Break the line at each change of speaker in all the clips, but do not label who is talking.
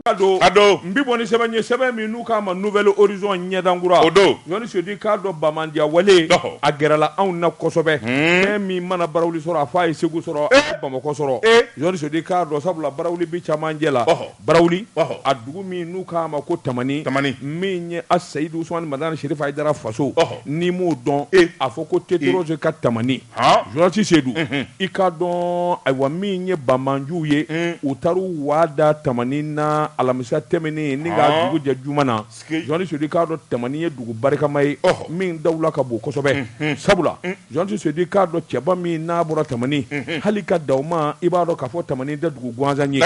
a don a don n bɛ bɔ ni sɛbɛn ye sɛbɛn min n'u k'a ma nouvelle horizon ɲɛdankura o don
journaliste Seyidu i k'a
dɔn banbaanciya wale Ɔhɔ. a gɛrɛla anw na kosɛbɛ fɛn min mana barawuli sɔrɔ a fɔ a ye segu sɔrɔ a ye bamakɔ sɔrɔ journaliste Seyidu i k'a dɔn sabula barawuli bi cɛmancɛ la Ɔhɔ. Barawuli ɔhɔ a dugu min n'u k'a ma ko Tamani Tamani min ye a Seyidu Usumani Madani Serifu Ayidara faso ɔhɔ n'i m'o dɔn e a fɔ ko Tetorɔze ka Tamani han journaliste Seyidu unhun i k'a dɔn ayiwa min ye banbaanciw ye un u taar'u waa da Tamani na alamisa tɛmɛnen ni ka dugu jɛ juma na Journaliste Seyidu i k'a dɔn Tamani ye dugu barikama ye min dawula ka bon kosɛbɛ sabula journaliste Seyidu i k'a dɔn cɛba min n'a bɔra Tamani hali ka da ma i b'a dɔn k'a fɔ Tamani tɛ dugu gansan ye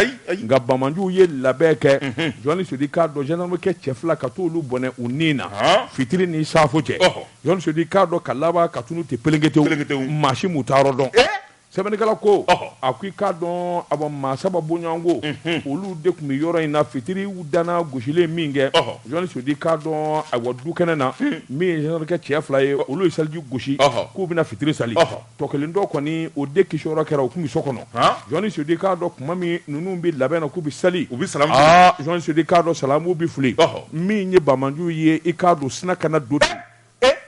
nka banbaanciw ye labɛn kɛ journaliste Seyidu i k'a dɔn jandamakɛ cɛ fila ka taa olu bɔnɛ u ni na fitiri ni safo cɛ journaliste Seyidu i k'a dɔn ka laban ka tunun ten pelenketew maa si m'u taayɔrɔ dɔn Sɛbɛnnikɛla ko a ko i k'a dɔn a maa saba bɔɲɔgɔnko olu de tun bɛ yɔrɔ in na fitiri dana gosilen minkɛ journaliste Seyidu i k'a dɔn awa du kɛnɛ na min ye cɛ fila ye olu ye seliji gosi k'u bɛna fitiri sali tɔ kelen dɔ kɔni o de kisiyɔrɔ kɛra o tun bɛ so kɔnɔ journaliste Seyidu i k'a dɔn tuma min ninnu bɛ labɛn na k'u bɛ sali journaliste Seyidu i k'a dɔn salamu bɛ fili min ye banbaanci ye i k'a dɔn sinna ka na du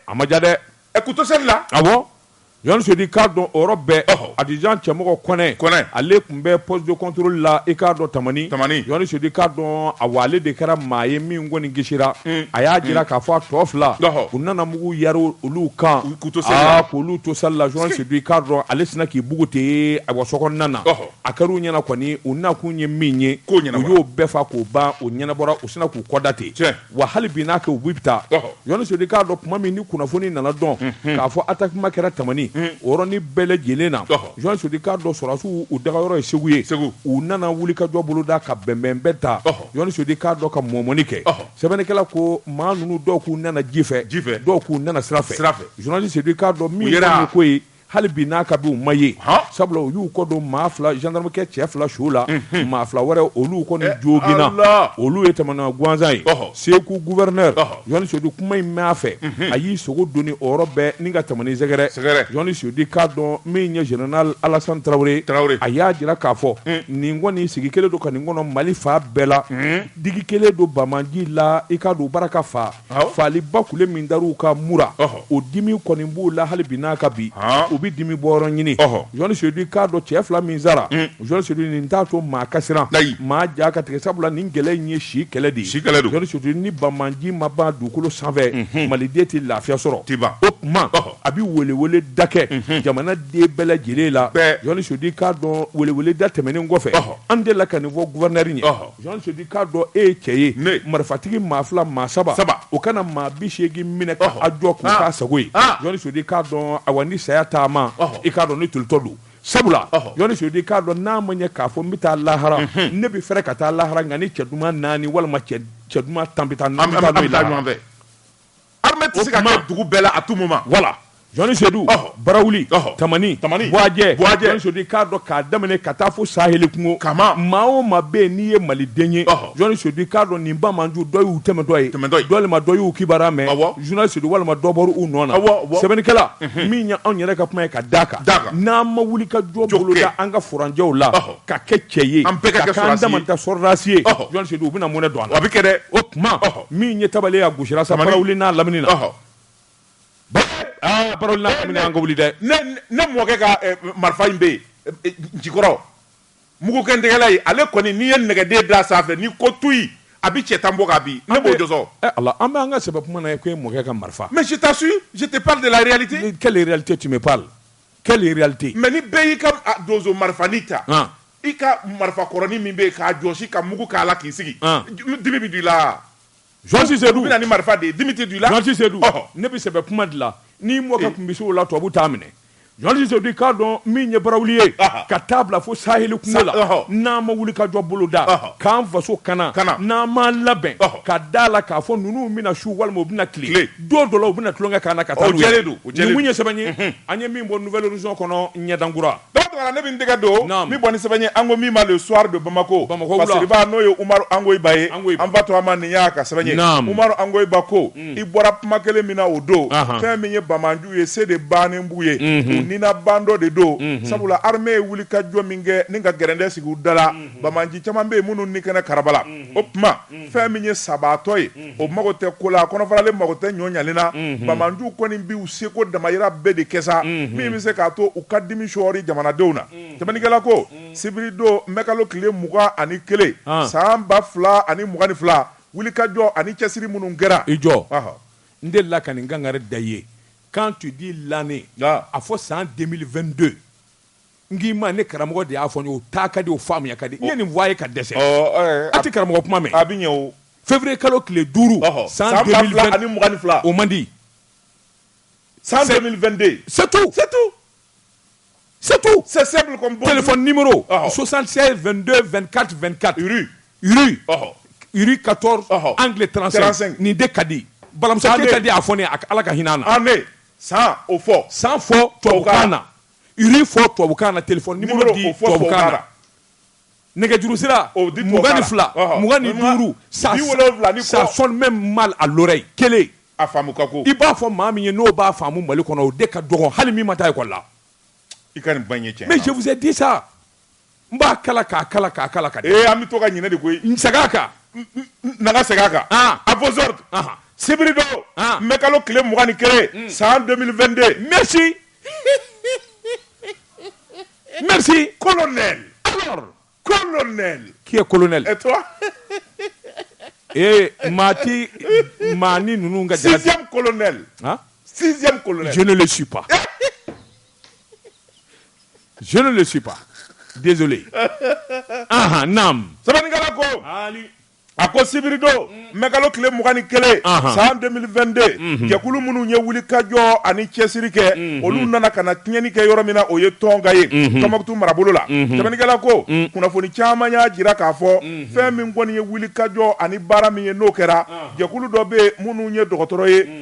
a maja dɛ Ɛ k'u to seli
la, awɔ,
journaliste Seyidu i k'a dɔn o yɔrɔ bɛɛ, ɔhɔ, adjudant Cɛmɔgɔ Kɔnɛ, Kɔnɛ, ale tun bɛ poste de controle la i k'a dɔn Tamani, Tamani, journaliste Seyidu i k'a dɔn, awa, ale de kɛra maa ye min kɔni kisira, un, a y'a jira k'a fɔ a tɔ fila, ɔhɔ, u nana mugu yari olu kan, k'u to seli la, aa k'olu to seli la, journaliste Seyidu i k'a dɔn ale sinna k'i bugu ten, ayiwa, sokɔnɔna na, ɔhɔ, a kɛra u ɲɛna kɔni u nakun ye min ye, u y'o bɛɛ fa k'o ban, o ɲɛnabɔra, u sinna k'u kɔda ten, tiɲɛ. wa hali bi n'a kɛ u bɛ taa journaliste Seyidu i k'a dɔn tuma min ni kunnafoni nana dɔn k'a fɔ atakima kɛra tamani o yɔrɔnin bɛɛ lajɛlen na journaliste Seyidu i k'a dɔn sɔrɔdasiw u dagayɔrɔ ye segu ye segu u nana wuli ka jɔ boloda ka bɛnbɛn bɛɛ ta journaliste Seyidu i k'a dɔn ka mɔmɔni kɛ sɛbɛnnikɛla ko maa ninnu dɔw k'u nana ji fɛ ji fɛ dɔw k'u nana sira fɛ journaliste Seyidu i k'a dɔn min ye ko ye hali bi n'a ka bi u ma ye sabula u y'u kɔ don maa fila jandamakɛ cɛ fila su la maa fila wɛrɛ olu kɔni eh, jooginna olu ye taamana gansan ye segu gouverneur journaliste Seyidu kuma in mɛn a fɛ a y'i sogo don ni o yɔrɔ bɛɛ ni ka Tamani sɛgɛrɛ journaliste Seyidu i k'a dɔn min ye général alasan tarawele tarawele a y'a jira k'a fɔ mm. nin kɔni sigi kelen don ka nin kɔnɔ mali fan bɛɛ la mm. digi kelen don banbaanci la i k'a dɔn barika fa fagali ba kule min dara u kan Mura o dimi kɔni b'u la hali bi n'a ka bi u bɛ dimi bɔyɔrɔ ɲini Jɔni Sedu i k'a dɔn cɛ fila min sara Jɔni Sedu nin t'a to maa ka siran maa ja ka tigɛ sabula nin kɛlɛ in ye si kɛlɛ de ye si kɛlɛ don Sedu ni banbaanci ma ban dugukolo sanfɛ maliden tɛ lafiya sɔrɔ teba o tuma a bɛ welewele da kɛ jamanaden bɛɛ lajɛlen la Jɔni Sedu i k'a dɔn welewele da tɛmɛnen kɔfɛ an delila ka nin fɔ gouverneur ye Jɔni Sedu i k'a dɔn e ye cɛ ye marifatigi maa fila maa saba saba o kana maa bi seegin minɛ k'a jɔ k'u k'a sago ye Jɔni Sedu i k'a dɔn awa ni saya taama i k'a dɔn ni tolitɔ don sabula Jɔni Sedu i k'a dɔn n'a ma ɲɛ k'a fɔ n bɛ taa lahara ne bɛ fɛrɛ ka taa lahara nka ni cɛ duman naani walima cɛ duman tan bɛ taa ɲɔgɔnfɛ
Armée tɛ se ka kɛ dugu bɛɛ la à tout moment voilà Jɔni
Sedu, ɔhɔ, Barawuli, ɔhɔ, Tamani, Tamani, Buajɛ, Buajɛ, Jɔni Sedu i k'a dɔn k'a daminɛ ka taa fo saheli kungo, Kama, maa o maa bɛ yen n'i ye Maliden ye, ɔhɔ, Jɔni Sedu i k'a dɔn nin banbaanci dɔ y'u tɛmɛtɔ ye, tɛmɛtɔ ye, walima dɔ y'u kibaruya mɛn, awɔ, Jɔni Sedu walima dɔ bɔra u nɔ na, awɔ, awɔ, sɛbɛnnikɛla, unhun, min ye anw yɛrɛ ka kuma ye ka d'a kan, d'a kan, n'an ma wuli ka jɔ boloda an ka furanjɛw la, ɔhɔ, ka kɛ cɛ ye, an bɛɛ ka kɛ sɔrɔdasi ye, ka k'an dama ta sɔrɔdasi ye, ɔhɔ, Jɔni Sedu u bɛna mɔnɛ don an na, a bɛ kɛ dɛ, o tuma,
ɔhɔ.
min ye tabale a gosira sa Barawuli n'a lamini na aa Barawuli lamini an ka wuli dɛ ne mɔkɛ ka
eh, marifa in bɛ yen eh, eh, jikɔrɔ mugukɛtigɛla ye ale kɔni n'i ye nɛgɛden da sanfɛ n'i ko tuyi a bɛ cɛ tan bon k'a bin ne b'o jɔsi ala an b'an ka sɛbɛ
kuma na e ko e mɔkɛ ka marifa mais je t'assure je
te parle de la réalité quelle réalité tu me
parles quelle réalité mais ni bɛɛ y'i ka
donso marifanin ta I ka marifa kɔrɔnin min bɛ k'a jɔsi ka mugu k'a la k'i sigi dimi bɛ don i la Jɔni
Sedu u bɛna ni marifa de ye dimi
tɛ don i la Jɔni Sedu ne bɛ
sɛbɛ kuma de la n'i mɔkɛ tun bɛ se o la tubabu t'a minɛ Jɔni Sedu i k'a dɔn min ye Barawuli ye ka taa bila fo saheli kungo la n'an ma wuli ka jɔ bolo da k'an faso kana n'an ma labɛn ka da la k'a fɔ ninnu bɛna su walima u bɛna tile don dɔ la u bɛna tulonkɛ k'an na ka taa don u ye sɛbɛn ye an ye min bɔ Nouvel Horizon kɔnɔ ɲɛdankura Tuma ne bɛ n
tɛgɛ don min bɔ ni sɛbɛn ye an ko min ma Le Soir de Bamako Bamako n'o ye Umaru Angoyiba ye an fa tɔgɔma nin y'a ka sɛbɛn ye Umaru Angoyiba ko i bɔra kuma kelen min na o don fɛn min ye banbaanci ye se de bannen b'u ye ni na bandɔ de don sabula armée ye wuli ka jɔ min kɛ ni ka gɛrɛntɛ sigi u da la banbaanci caman bɛ yen minnu ni kɛnɛkaraba la o tuma fɛn min ye sabaatɔ ye o mago tɛ ko la a kɔnɔfaralen mago tɛ ɲɔ ɲalen na banbaanci kɔni bi u seko damayira bɛɛ de kɛ sa min bɛ se k'a to u ka dimi sɔɔri jamanadenw na sɛbɛnnikɛla ko sibiridon mɛkalo tile mugan ani kelen san ba fila ani mugan ni fila wulikajɔ ani cɛsiri minnu kɛra i
jɔ n delila ka nin kangari da i ye quand tu dis l'année a fɔ san 2022 N k'i ma ne karamɔgɔ de y'a fɔ o taa ka di o faamuya ka di ye nin fɔ ye ka dɛsɛ a tɛ karamɔgɔ kuma mɛn a bɛ
fɛnfurue kalo tile
duuru san fila o man di
san sɛbɛn2den
satu satu satu sɛ sosan72den2 kati2 ka ka tɔɔrɔ an tile nin de ka di balimamusa ka di a fɔ ala ka hinɛan na san o
fɔ san fɔ tubabu
na rue fɔ tubabukan na telefɔni nimoro di tubabukan na nɛgɛjuru sira mugan ni fila mugan ni duuru ça ça sonne même mal à l'oreille kelen a faamu ka
go i b'a fɔ maa min
ye n'o b'a faamu mali kɔnɔ o de ka dɔgɔn hali min ma taa ekɔli la i ka nin
bange cɛ mais je vous ai dit ça
N b'a kala k'a kala k'a kala ka ee an bɛ to ka
ɲinɛ de koyi n segin
a kan na
ka segin a kan à vos ordres sibiri don mɛkalo tile mugan ni kelen san 2022 merci
merci colonel
colonel qui est colonel ee maa
tɛ maa ni ninnu ka
colonel sixième colonel je ne le suis pas
Je ne le suis pas. Désolé. Aha, nam. Sɛbɛnnikɛla
ko Ali. a ko sibiri don mɛkalo tile mugan ni kelen Ahan. san 2022 jɛkulu minnu ye wuli ka jɔ ani cɛsiri kɛ olu nana ka na tiɲɛni kɛ yɔrɔ min na o ye Tɔnka ye Tɔnbukutu marabolo la sɛbɛnnikɛla ko kunnafoni caman y'a jira k'a fɔ fɛn min kɔni ye wuli ka jɔ ani baara min ye n'o kɛra jɛkulu dɔ bɛ yen minnu ye dɔgɔtɔrɔ ye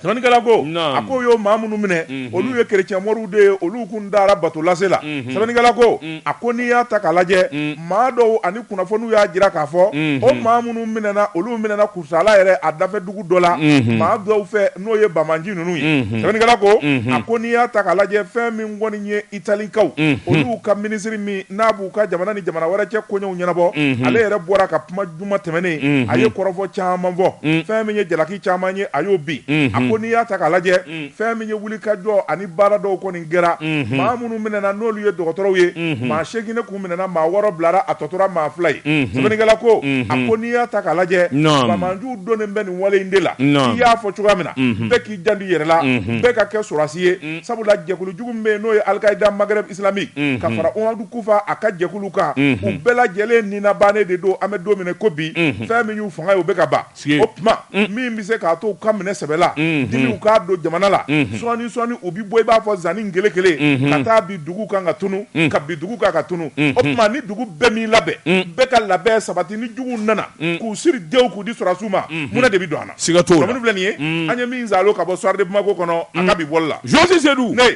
Sɛbɛnnikɛla ko, naamu, a k'o y'o maa minnu minɛ, unhun, olu ye chrétien mɔriw de ye, olu tun dara bato lase la, unhun, sɛbɛnnikɛla ko, un, a ko n'i y'a ta k'a lajɛ, un, maa dɔw ani kunnafoniw y'a jira k'a fɔ, unhun, o maa minnu minɛna, olu minɛna Kucala yɛrɛ a dafɛ dugu dɔ la, unhun, maa dɔw fɛ n'o ye banbaanci ninnu ye, unhun, sɛbɛnnikɛla ko, unhun, a ko n'i y'a ta k'a lajɛ fɛn min kɔni ye Italikaw, unhun, olu ka minisiri min n'a b'u ka jamana ni jamana wɛrɛ cɛ koɲɛw ɲɛnabɔ, unhun, ale yɛrɛ bɔra ka kuma Juma tɛmɛnen a ye kɔrɔfɔ caman fɔ fɛn min ye jalaki caman ye a y'o bin a ko n'i y'a ta k'a lajɛ fɛn min ye wuli ka jɔ ani baara dɔw kɔni kɛra maa minnu minɛna n'olu ye dɔgɔtɔrɔw ye maa seegin de tun minɛna maa wɔɔrɔ bilara a tɔ tora maa fila ye sɛbɛnnikɛla ko a ko n'i y'a ta k'a lajɛ banbaanciw donnen bɛ nin wale in de la i y'a fɔ cogoya min na bɛɛ k'i janto i yɛrɛ la bɛɛ ka kɛ sɔrɔdasi ye sabula jɛkulu jugu min bɛ yen n'o ye Al-Qaïda Maghreb islamique mhm. ka fara Amadu Kufa a ka jɛkulu kan mhm. u bɛɛ lajɛlen ni na bannen de don an bɛ don min na i ko bi mhm. fɛn min y'u fanga ye o bɛ ka ban o tuma min bɛ se k'a to u ka minɛ sɛbɛ la dimiw k'a don jamana la sɔɔni sɔɔni u bɛ bɔ i b'a fɔ zanni kele kele ka taa bin dugu kan ka tunu ka bin dugu kan ka tunu o tuma ni dugu bɛɛ m'i labɛn bɛɛ ka labɛn sabati ni juguw nana k'u siri dew k'u di sɔrɔdasiw ma mun de bɛ don an na siga t'o la filɛ nin ye
an ye
min zalo ka bɔ Soir de Bamako kɔnɔ a ka bi bɔli la Jose Sedu ne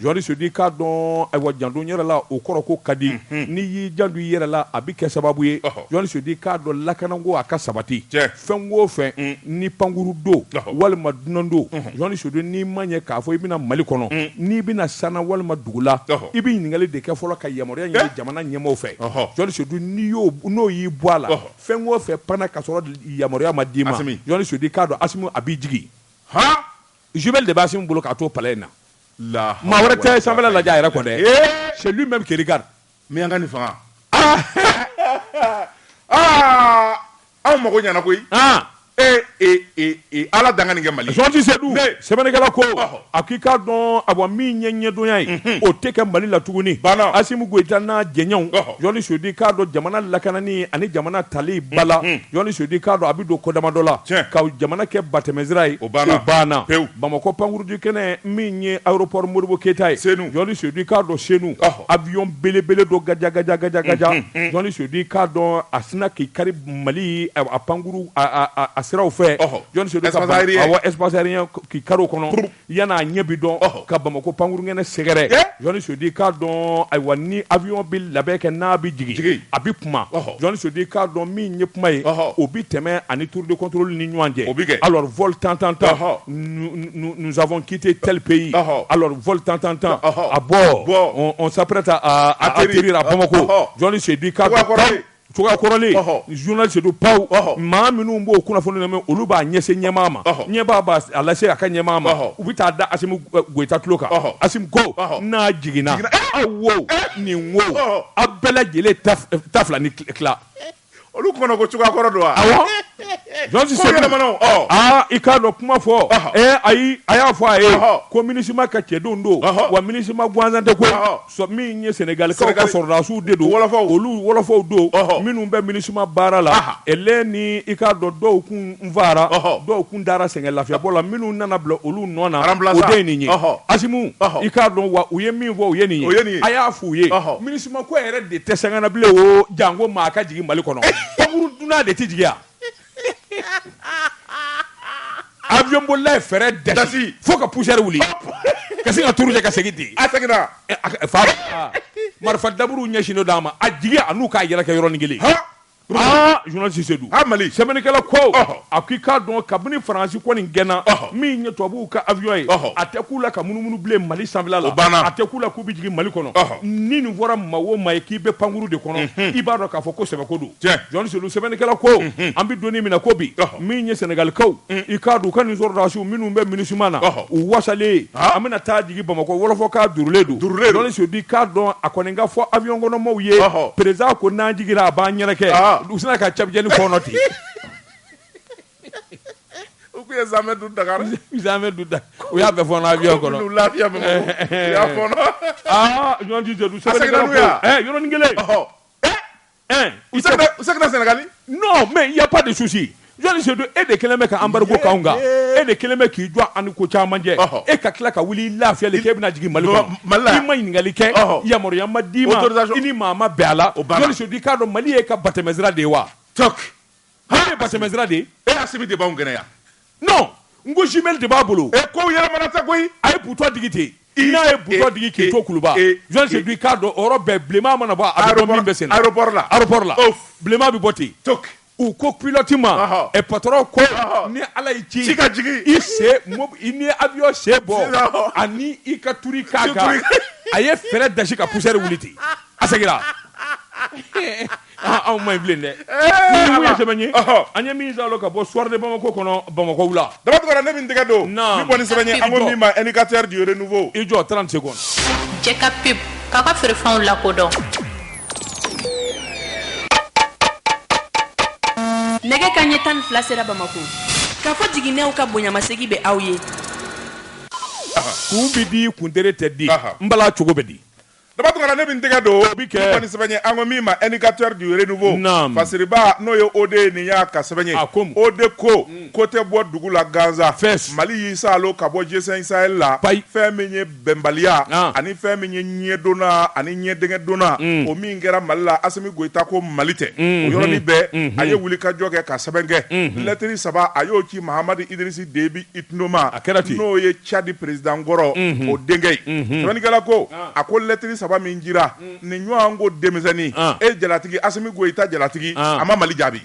journaliste sedu k'a dɔn ayiwa janto yɛrɛ la o kɔrɔ ko ka di n'i y'i janto i yɛrɛ la a bɛ kɛ sababu ye journaliste sedu k'a dɔn lakanako a ka sabati fɛn o fɛn ni pankuru don walima dunan don journaliste sedu n'i ma ɲɛ k'a fɔ i bɛna mali kɔnɔ n'i bɛna san na walima dugu la i bɛ ɲininkali de kɛ fɔlɔ ka yamaruya ɲini jamana ɲɛmaaw fɛ journaliste sedu n'i y'o n'o y'i bɔ a la fɛn o fɛn panna ka sɔrɔ yamaruya ma d'i ma journaliste sedu k'a dɔn asimi a b'i jigin Jumelles de b'Asimi bolo k'a to palɛ in na, la hawla maa wɛrɛ tɛ sanfɛla lajɛ a yɛrɛ kɔ dɛ, c'est lui même qui regarde miyanka ni fanga,
aa anw mago ɲɛna koyi, an ee ee ee ee Ala dankan ni kɛ Mali ye, Journaliste Sedu
sɛbɛnnikɛla ko, ɔhɔ, a ko i k'a dɔn awa min ye ɲɛdonya ye, unhun, o tɛ kɛ Mali la tuguni, banna, Asimi Goyita n'a jɛɲɔgɔnw, ɔhɔ, Journaliste Sedu i k'a dɔn jamana lakanani ani jamana tali ba la, unhun. Journaliste sedu k'a dɔn a bɛ don ko damadɔ la ka jamana kɛ batɛmɛsira ye o banna pewu bamakɔ pankuru jigi kɛnɛ min ye aéroport modibo keyita ye journaliste sedu k'a dɔn senu avion belebele dɔ gaja gaja gaja gaja journaliste sedu k'a dɔn a sina k'i kari mali a pankuru a siraw fɛ journaliste sedu espace aérien k'i kari o kɔnɔ yan n'a ɲɛ bi dɔn ka bamakɔ pankurukɛnɛ sɛgɛrɛ journaliste sedu k'a dɔn ayiwa ni avion bɛ labɛn kɛ n'a bɛ jigin a bɛ kuma journaliste sedu k'a dɔn min ye kuma ye o bɛ tɛmɛ a ni tour de contrôle ni ɲɔgɔn cɛ o bɛ kɛ alors vol tan tan tan nous avons quitté tel pays alors vol tan tan tan à bord on s'apprête à atterrir à Bamako journaliste sedu k'a dɔn Kɔrɔlen journaliste sedu panw maa minnu b'o kunnafoni lamɛn olu b'a ɲɛsin ɲɛmaa ma ɲɛmaa b'a lase a ka ɲɛmaa ma u bɛ taa da asimi goyita tulo kan asimi ko n'a jiginna aw wo nin wo aw bɛɛ lajɛlen ta fila ni tila olu
tuma ko cogoya kɔrɔ don
wa journaliste sedu aaa i k'a dɔn kuma fɔ ayi a y'a fɔ a ye ko minisuma ka cɛdenw don wa minisuma gansan tɛ min ye sɛnɛgali ka sɔrɔdasiw de don olu wɔlɔfɔw don minnu bɛ minisuma baara la ɛ ni i k'a dɔn dɔw kun n fara dɔw kun taara sɛgɛn lafiyabɔ la minnu nana bila olu nɔ na o de ye nin ye asimi i k'a dɔn wa u ye min fɔ u ye nin ye a y'a f' u ye minisuma ko yɛrɛ de tɛ sen na bilen o janko maa ka jigin mali kɔnɔ pankuru dunan de tɛ jigin yan Awyɔn bolila ye fɛrɛn dasi fo ka poussière wuli ka ka tuuru kɛ ka segin di a
fa
marifa daburu ɲɛsinnen b'a ma a jigi a n'u k'a yɛrɛkɛ yɔrɔnin kelen journaliste sedu amadu sɛbɛnnikɛla ko a ko i k'a dɔn kabini faransi kɔni gɛnna min ye tubabuw ka awyɔn ye a tɛ k'u la ka munumunu bilen mali sanfɛla la banna a tɛ k'u la k'u bɛ jigin mali kɔnɔ ni nin fɔra maa o maa ye k'i bɛ pankuru de kɔnɔ i b'a dɔn k'a fɔ ko sɛbɛko don Jɔnsedu sɛbɛnnikɛla ko an bɛ don min na ko bi min ye sɛnɛgalikaw i k'a dɔn u ka nin sɔrɔdasiw minnu bɛ MINUSMA na u wasalen an bɛna taa jigin bamakɔ wɔlɔfɔ ka duurulen don Jɔnsedu i k'a dɔn a kɔni ka fɔ avion kɔnɔmaw ye président ko n'an jiginna a b'an ɲɛnakɛ u sinna ka cɛbujɛni fɔɔnɔ ten
u tun ye zamɛ dun Dakar u
y'a bɛɛ fɔɔnɔ avion kɔnɔ u lafiya u y'a fɔɔnɔ Jɔnsedu sɛbɛnnikɛla ko yɔrɔnin kelen Ɛɛ u u
segin u seginna Senegali? Non mais il y
a pas de souci Jɔnsedu e de kelen bɛ ka embargo kɛ anw kan e de kelen bɛ k'i jɔ an ni ko caman cɛ ɔhɔ e ka tila ka wuli i lafiyalen k'e bɛna jigin Mali kɔnɔ non Mali la yan i ma ɲininkali kɛ ɔhɔ yamaruya ma d'i ma autorisation i ni maa ma bɛn a la o banna Jɔnsedu i k'a dɔn Mali y'e ka batɛmɛsira de ye wa toc Hali batɛmɛsira de ye Asimi de b'anw
kɛnɛ
yan n ko jumelle de b'a bolo e kow yɛlɛmana tɛ
koyi a ye butɔn digi
ten i n'a ye butɔn digi k'i to kuluba Jɔnsedu k'a dɔn o yɔrɔ bɛɛ bilenma mana bɔ a bɛ dɔn min bɛ sen na aéroport la bilenma bɛ bɔ ten to u ko pilote ma ɛ patron ko ni Ala y'i ci ka jigin i sen ni avion sen bɔ ani i ka to k'a a ye fɛɛrɛ dasi ka poussière wuli ten a seginna Ah, anw ma ye bilen dɛ min ye sɛbɛn ye an ye min salo ka bɔ Soir de Bamako kɔnɔ Bamakɔ wula Daba Tunkara ne bɛ n tɛgɛ don
min kɔni sɛbɛn ye an ko min ma indicateur du renouveau i jɔ 30 secondes
cɛ ka pub
k'aw ka feerefɛnw lakodɔn nɛgɛ kanɲɛ tan ni fila sera Bamako k'a fɔ jiginnenw ka bonyamasegin bɛ aw ye
kun bɛ di kuntere tɛ di n bala cogo bɛ di Daba Tunkara ne bɛ n
tɛgɛ don min kɔni sɛbɛn ye an ko min ma indicateur du renouveau Fasiriba n'o ye OD nin y'a ka sɛbɛn ye OD ko ko tɛ bɔ dugu la gansan mali y'i salo ka bɔ G5 Sahel la fɛn min ye bɛnbaliya ani fɛn min ye ɲɛ donna ani ɲɛ tɛgɛ donna o min kɛra mali la Asimi Goyita ko mali tɛ o yɔrɔnin bɛɛ a ye wulikajɔ kɛ ka sɛbɛn kɛ lɛtiri saba a y'o ci mahamadu idrisi Debi Itino ma a kɛra ten n'o ye Cadi perezidankɔrɔ o denkɛ ye sɛbɛnnikɛla ko a ko lɛtiri saba min jira nin ɲɔgɔn ko denmisɛnnin e jalatigi Asimi Goyita jalatigi a ma mali
jaabi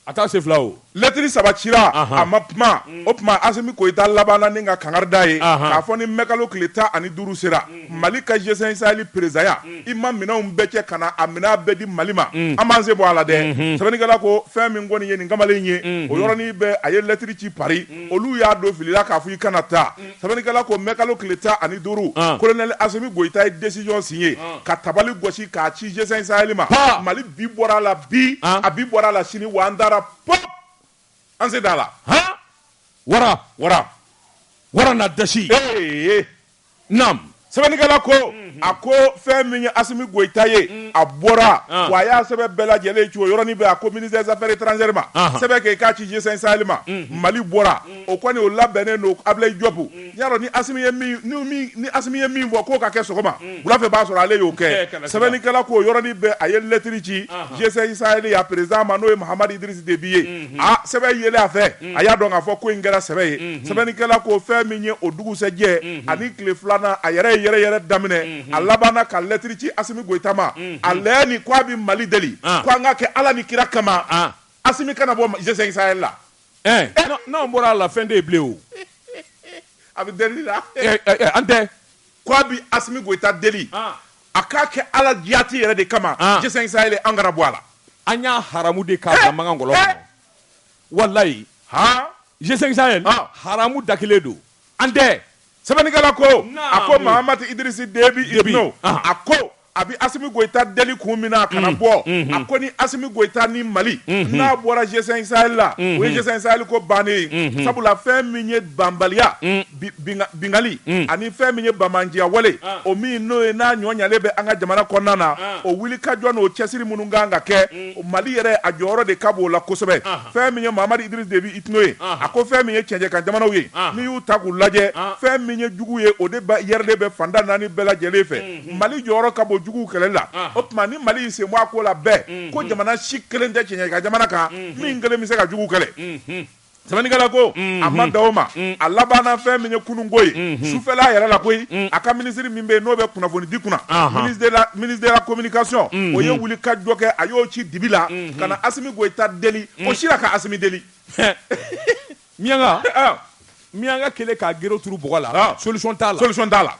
a taa se fila o lɛtiri saba cira
a ma kuma o tuma Asimi Goyita labanna ni ka kangari da ye k'a fɔ ni mɛkalo tile tan ani duuru sera mali ka G5 Sahel perezidanya i ma minɛnw bɛɛ cɛ ka na a minɛn bɛɛ di mali ma an b'an sen bɔ a la dɛ sɛbɛnnikɛla ko fɛn min kɔni ye nin kamalen ye o yɔrɔnin bɛɛ a ye lɛtiri ci Pari olu y'a don filila k'a fɔ i kana taa sɛbɛnnikɛla ko mɛkalo tile tan ani duuru kolonɛli Asimi Goyita ye desizɔn siɲe ka tabali gosi k'a ci G5 Sahel ma mali bi bɔra a la bi a bi bɔra a la sini wa an taara p An se d'a la han wara
wara wara na dasi
ee naam sɛbɛnnikɛla ko mhm. a ko fɛn min ye Asimi Goyita ye mm. a bɔra ah. wa a y'a sɛbɛn bɛɛ lajɛlen ci o yɔrɔnin bɛɛ a ko ministère des affaires étrangères ma sɛbɛn kɛ i k'a ci G5 Sahel ma mhm. Mali bɔra mm. o kɔni o labɛnnen don Ablaye Diop mm. y'a dɔn ni Asimi ye min ni min ni Asimi ye min fɔ k'o ka kɛ sɔgɔma unhun wula fɛ b'a sɔrɔ ale y'o kɛ sɛbɛnnikɛla k'o yɔrɔnin bɛɛ a ye lettre ci anhan G5 Sahel a président ma n'o ye Mahamadi Idriss Déby ye unhun aa sɛbɛn yelen a fɛ unhun a y'a dɔn k'a fɔ ko in kɛra sɛbɛ ye unhun sɛbɛnnikɛla ko fɛn min ye o dugusɛjɛ unhun ani tile filanan a yɛrɛ ye yɛrɛyɛrɛ daminɛ unhun a labanna ka lettre ci Assimi Goita ma unhun a laɲini ko a bi Mali deli an ko an k'a kɛ Ala ni kira kama an Assimi kana bɔ G5 Sahel la Ɛɛ
n'an bɔra a la fɛn de bilen o
a bɛ deli la an
tɛ k' a bɛ
Asimi Goyita deli a k'a kɛ ala jati yɛrɛ de kama G5 Sahel an kana bɔ a la an y'a
haramu de k'a ka mangangolo walayi G5 Sahel haramu da kelen don an tɛ sɛbɛnnikɛla ko
a ko Mahamat Idriss Déby Itno a ko a bɛ Asimi Goyita deli kun min na a kana bɔ, unhun, a ko ni Asimi Goyita ni Mali, unhun, n'a bɔra G5 Sahel la, unhun, o ye G5 Sahel ko bannen ye, unhun, sabula fɛn min ye banbaliya, un, binkanni, un, ani fɛn min ye banbaanciyawale, an, o min n'o ye n'a ɲɔ ɲɛlen bɛ an ka jamana kɔnɔna na, an, o wulikajɔ n'o cɛsiri minnu ka kan ka kɛ, un, Mali yɛrɛ a jɔyɔrɔ de ka bon o la kosɛbɛ, anhan, fɛn min ye Mahamadu Idirisi Debi Itno ye, anhan, a ko fɛn min ye cɛncɛnkanjamanaw ye, anhan, n'i y'u ta k'u lajɛ, anhan, fɛn min ye jugu ye o de yɛrɛlen bɛ fanda naani bɛɛ lajɛlen fɛ, un. mali jɔyɔrɔ ka bon jugu kɛlɛ la o tuma ni mali y'i sen bɔ a ko la bɛɛ ko jamana si kelen tɛ cɛncɛnkanjamana kan min kelen bɛ se ka jugu kɛlɛ sɛbɛnnikɛla ko a ma dan o ma a labanna fɛn min ye kununko ye sufɛla yɛrɛ la koyi a ka minisiri min bɛ n'o bɛ kunnafonidi kunna ministre de la communication o ye wuli ka jɔ kɛ a y'o ci dibi la ka na Asimi Goyita deli o si la ka Asimi deli miyanka
miyanka kɛlen k'a gere turu bɔgɔ la solution t'a la solution t'a la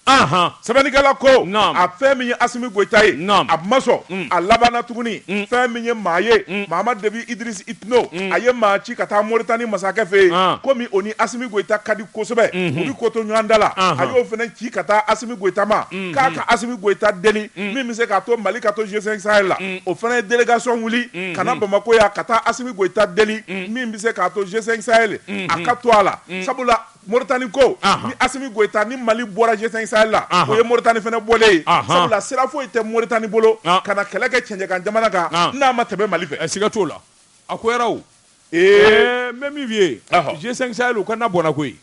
sɛbɛnnikɛla ko a fɛn min ye Asimi Goyita ye a ma sɔn a labanna tuguni fɛn min ye maa ye Mahamadu Debi Idirisi Itno a ye maa ci ka taa Moritani masakɛ fɛ yen komi o ni Asimi Goyita ka di kosɛbɛ u bɛ ko to ɲɔgɔn ta la a y'o fana ci ka taa Asimi Goyita ma k'a ka Asimi Goyita deli min bɛ se k'a to Mali ka to G5 Sahel la o fana ye délégation wuli ka na Bamako yan ka taa Asimi Goyita deli min bɛ se k'a to G5 Sahel a ka to a la sabula Moritani ko ni Asimi Goyita ni mali bɔra G5 Sahel la o ye Moritani fana bɔlen ye sabula sira foyi tɛ Moritani bolo ka na kɛlɛ kɛ cɛncɛnkanjamana kan n'a ma tɛmɛ mali fɛ a siga t'o la
a ko yɛrɛ o n bɛ min f'i ye G5 Sahel o ka na bɔnna koyi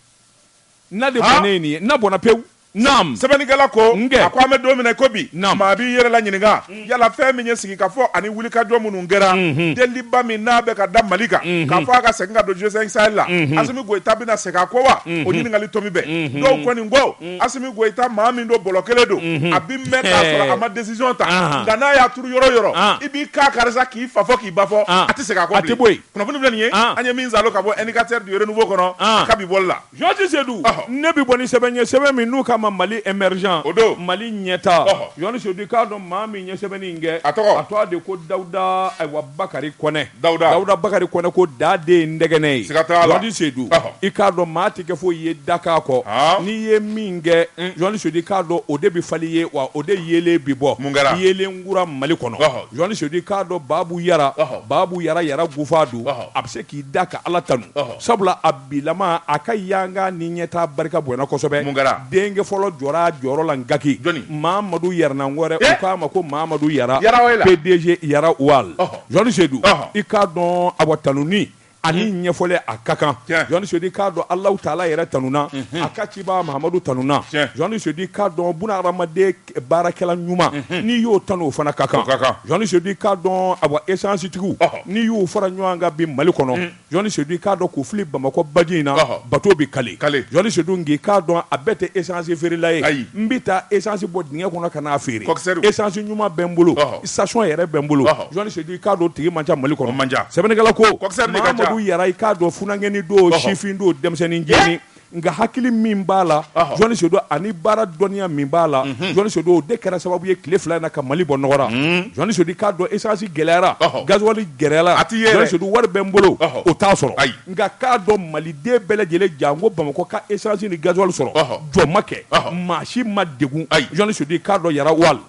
na de bɔnnen ye nin ye na bɔnna pewu Naam. Sɛbɛnnikɛla
ko, n kɛ, a ko an bɛ don min na i ko bi, Naam. maa b'i yɛrɛ la ɲininka, yala fɛn min ye sigikafɔ ani wulikajɔ minnu kɛra, Unhun. deliliba min n'a bɛ ka da Mali kan, Unhun. k'a fɔ a ka segin ka don G5 Sahel la, Unhun. Asimi Goyita bɛna segin a kɔ wa? O ɲininkali tomi bɛ. Unhun. Dɔw kɔni ko, Asimi Goyita maa min don bɔlɔ kelen don, Unhun. a bɛ mɛn k'a sɔrɔ a ma décision ta, Ahan. nka n'a y'a turu yɔrɔ o yɔrɔ, An. i b'i ka kari sa k'i fa fɔ k'i ba fɔ, An. a tɛ segin a kɔ bilen. A tɛ bɔ yen. Kunnafoni filɛ nin ye, An. an ye min saalo ka bɔ indicateur du renouveau kɔnɔ, An. a ka bi bɔli la. Jean Ty Seydou,
ɔhɔ, ne bɛ bɔ ni sɛbɛn ye sɛbɛn min n'u k'a ma Mali émergent, o don, Mali ɲɛtaa, ɔhɔ, Jean Ty Seydou i k'a dɔn maa min ye sɛbɛnni in kɛ, a tɔgɔ, a tɔgɔ de ko Dawuda ayiwa Bakari Kɔnɛ, Dawuda, Dawuda Bakari Kɔnɛ ko Da den ye ndɛgɛnɛ ye, siga t'a la, Jean Ty Seydou, ɔhɔ, i k'a dɔn maa tɛ kɛ foyi ye dakan kɔ, haan, n'i ye min kɛ, un, Jean Ty Seydou i k'a dɔn o de bɛ falen i ye wa o de yeelen bɛ bɔ, mun kɛra, yeelen kura Mali kɔnɔ, ɔhɔ, Jean Ty Seydou i k'a dɔn Babu Yara, ɔhɔ, Babu Yara Yara Gufadu, ɔhɔ, a bɛ se k'i da ka Ala tanu, ɔhɔ, sabula a bilama, a ka yanga ni ɲɛtaa barika bonyana kosɛbɛ. Mun kɛra? Denkɛ fɔlɔ jɔra a jɔyɔrɔ la Ngaki. Jɔni? Mamadu Yaranangore. Ee! U k'a ma ko Mamadu Yara. Yara Oil. PDG Yara Oil. Ɔhɔ! Jɔni Sedu. Ɔhɔ! I k'a dɔn awa tanuni ani ɲɛfɔli a ka kan. Tiɲɛ! Jɔni Sedu, i k'a dɔn Alahu Taala yɛrɛ tanuna. Unhun! A ka cibaa Mahamadu tanuna. Tiɲɛ! Jɔni Sedu, i k'a dɔn buna hadamaden baarakɛla ɲuman. Unhun! N'i y'o tanu o fana ka kan. O ka kan! Jɔni Sedu, i k'a dɔn awa esansitigiw. Ɔhɔ! N'i y'u fara ɲɔgɔn kan bi Mali kɔnɔ. Un! Jɔni sedu i k'a dɔn k'u fili bamakɔ baji in na bato bɛ kale jɔnni sedu nk'i k'a dɔn a bɛɛ tɛ esansi feerela ye ayi n bɛ taa esansi bɔ dingɛ kɔnɔ ka n'a feere esansi ɲuman bɛ n bolo station yɛrɛ bɛ n bolo jɔni sedu i k'a dɔn tigi man ca mali kɔnɔ man ca sɛbɛnnikɛla ko Mamadu Yara i k'a dɔn funankɛnin don sifin don denmisɛnnin jeni nka hakili min b'a la jɔnni sedu ani baara dɔnniya min b'a la mhm. jɔnni sedu o de kɛra sababu ye tile fila in na ka mali bɔ nɔgɔ ra mhm. jɔnni sedu k'a dɔn esansi gɛlɛyara gazuwali gɛlɛyara a tɛ ye jɔnni sedu wari bɛ n bolo o t'a sɔrɔ nka k'a dɔn maliden bɛɛ lajɛlen janko bamakɔ ka esansi ni gazuwali sɔrɔ jɔ ma kɛ maa si ma degun jɔnni sedu k'a dɔn Yara Oil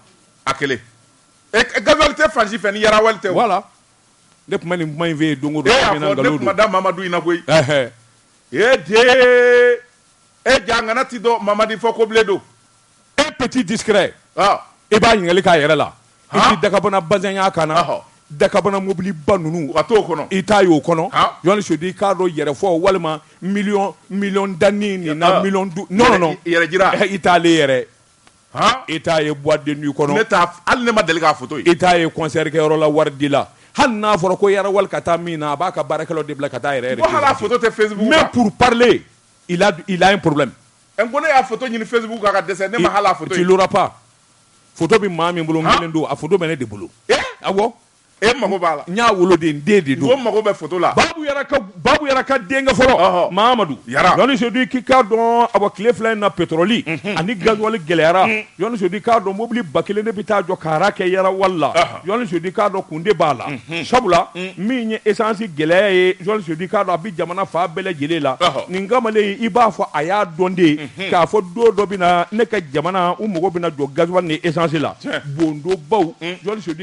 a kelen e, e, gazuwali tɛ
fan
si fɛ ni Yara Oil tɛ wala ne tun
bɛ nin kuma in fɔ yen don o don ne y'a fɔ ne tun ma da mamadu
in na koyi E den e ja gana tɛ dɔn mamadi fɔ ko bilen don e petit
discret i b'a ɲininkali k'a yɛrɛ la i tɛ dakabana bazɛn y'a kan na dakabana mobiliba ninnu a t'o kɔnɔ i t'a
ye o
kɔnɔ Jɔni Sodi i k'a dɔn yɛrɛfɔ walima miliyɔn miliyɔn danni nin na miliyɔn du non non yɛrɛjira i
t'ale yɛrɛ
e t' ye bden du kɔnɔ hali ne ma deli k'a
to e t'a ye kɔnɛrikɛyɔrɔ
la wari di la hali n'a fɔra ko yɛrɛ wari ka taa min na a b'a ka baara de bila ka taa yɛrɛ
mɛ pur pale
i la in poro ko ne y'a
ɲini fɛnbugu ka dɛsɛ ne ma
bɛ maa min bolo don a bɛ ne de bolo a E mago
b'a la n y'a wolo de n den
de don mago bɛ foto
la
babu Yara ka denkɛ fɔlɔ mamadu jɔni sodi k'i k'a dɔn a bɔ tile fila in na pétrole ani gasoil gɛlɛyara jɔni sodi k'a dɔn mobili ba kelen de bɛ taa jɔ ka rang kɛ Yara Oil la jɔni sodi k'a dɔn kun de b'a la sabula min ye esansi gɛlɛya ye jɔni sodi k'a dɔn a bɛ jamana fan bɛɛ lajɛlen la nin kamalen i b'a fɔ a y'a dɔn de k'a fɔ don dɔ bɛ na ne ka jamana u mago bɛna jɔ gasoil ni esansi la bondobaw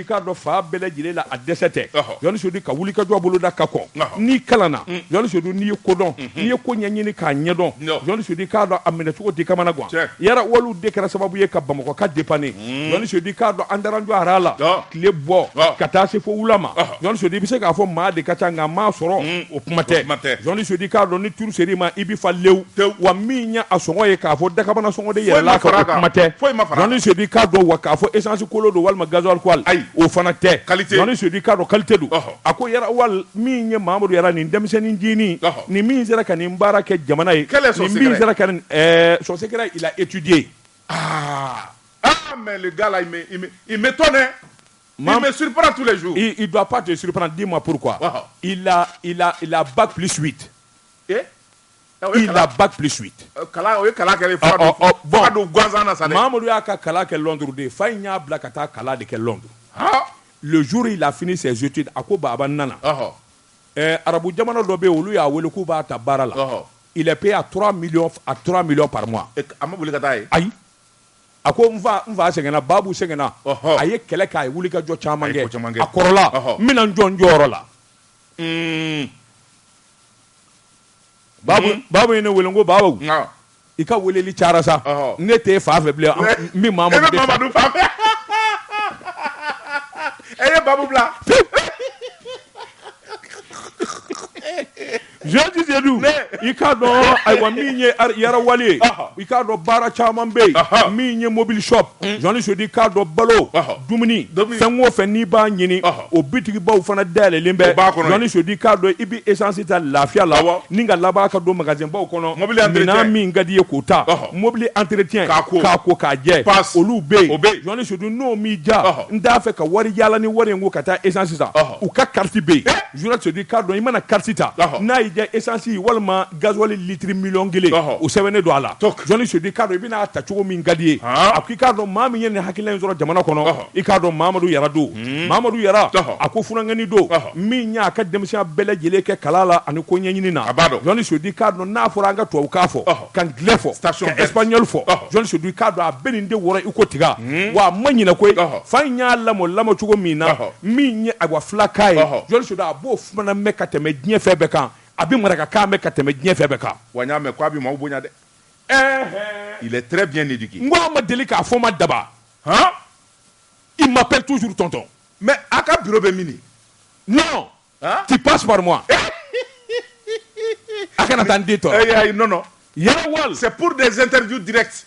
i k'a dɔn fan bɛɛ lajɛlen la a dɛsɛ tɛ jɔnni sodi ka wulikajɔ boloda ka kɔn n'i kalanna mm. jɔnni sodi n'i ye ko dɔn mm-hmm. n'i ye ko ɲɛɲini k'a ɲɛdɔn jɔnni sodi k'a dɔn a minɛcogo t'i kamana gan Yara Oilw de kɛra sababu ye ka bamakɔ ka dépanner mm. jɔnni sodi k'a dɔn an taara an jɔ rang la tile bɔ ka taa se fo wula ma jɔnni sodi i bɛ se k'a fɔ maa de ka ca nka maa sɔrɔ mm. o kuma tɛ jɔnni sodi k'a dɔn n'i tour ser'i ma i bɛ fa lewu wa min ye a sɔngɔ ye k'a fɔ dakabana sɔngɔ de yɛlɛla a kan o kuma tɛ Jɔni Sedi k'a dɔn wa k'a fɔ essence kolon don walima gasoil kolon ayi o fana tɛ qualité Jɔni Sedi k'a dɔn qualité don a ko Yara Oil min ye Mahamadu yara nin denmisɛnnin ncinin nin min sera ka nin baara kɛ jamana ye nin min sera ka nin ɛɛ son secret il a étudié ah
ah mais le gars là il me il m'étonne hein il me surprend tous les jours il, il doit pas te surprendre
dis-moi pourquoi il a il a il a bac plus 8 eh
Mamadu y'a
ka kalan kɛ Londres de fa in y'a bila ka taa kalan de kɛ Londres le jour il a fini ses études a ko baba n nana arabu jamana dɔ bɛ olu y'a weele k'u b'a ta baara la il est payé à 3 millions par mois ayi a ko n fa sɛgɛnna babu sɛgɛnna a ye kɛlɛ kɛ a ye wulikajɔ caman kɛ a kɔrɔla n bɛna jɔ n jɔyɔrɔ la Babu Babu ye ne wele n ko Babu Nka. i ka weleli cayara sa Ɔhɔ. ne t'e fa fɛ bilen an- n bɛ maa E bɛ Mamadu de fa Mamadu fa
fɛ. E ye babu
bila. Jɔni Sedi, Ne. i k'a dɔn ayiwa min ye ar- Yara Oil ye Ɔhɔ. i k'a dɔn baara caman bɛ yen Ɔhɔ. min ye mobili shop Hmm. Jɔni sodi k'a dɔn balo dumuni fɛn o fɛn n'i b'a ɲini o bitigibaw fana dayɛlɛnlen bɛ jɔni sodi k'a dɔn i bɛ esansi ta lafiya la ni ka laban ka don magasinbaw kɔnɔ minɛn min ka d'i ye k'o ta mɔbili entretien k'a ko k'a ko k'a jɛ olu bɛ o bɛ jɔni sudi n'o m'i diya n t'a fɛ ka wari yaala ni wari ye n kun ka taa esansi san u ka kariti bɛ yen jɔni sodi k'a dɔn i mana kariti ta n'a y'i esansi walima gasoil litiri miliyɔn kelen o sɛbɛnnen don a la jɔnni sodi k'a dɔn i bɛn'a ta cogo min ka d'i ye a ko i k'a dɔn maa min ye nin hakilina in sɔrɔ jamana kɔnɔ i k'a dɔn mamadu yara don mamadu yara a ko funankɛnin don min y'a ka denmisɛnya bɛɛ lajɛlen kɛ kalan la ani ko ɲɛɲini na jɔnni sodi k'a dɔn n'a fɔra an ka tubabukan fɔ ka anglais fɔ ka espagnol fɔ jɔnni sodi k'a dɔn a bɛ nin de wɔrɔ i ko tiga wa a ma ɲinɛ ko fa in y'a lamɔ lamɔ cogo min na min ye awa filakan ye jɔnni sodi a b'o fana mɛn ka tɛmɛ diɲɛ fɛn bɛɛ kan a bɛ marakakan mɛn ka tɛmɛ diɲɛ fɛn bɛɛ kan, wa n y'a mɛn ko a bɛ
maaw bonya dɛ, ɛɛhɛɛ, il est très bien éduqué n ko a ma deli k'a fɔ
n ma daba, han, il m'appelle toujours tonton, mais a ka
bureau bɛ mini? non,
han, tu passes par moi a kana taa n den tɔɔrɔ, ee ayi non non, Yara
Oil, c'est
pour des interviews
directes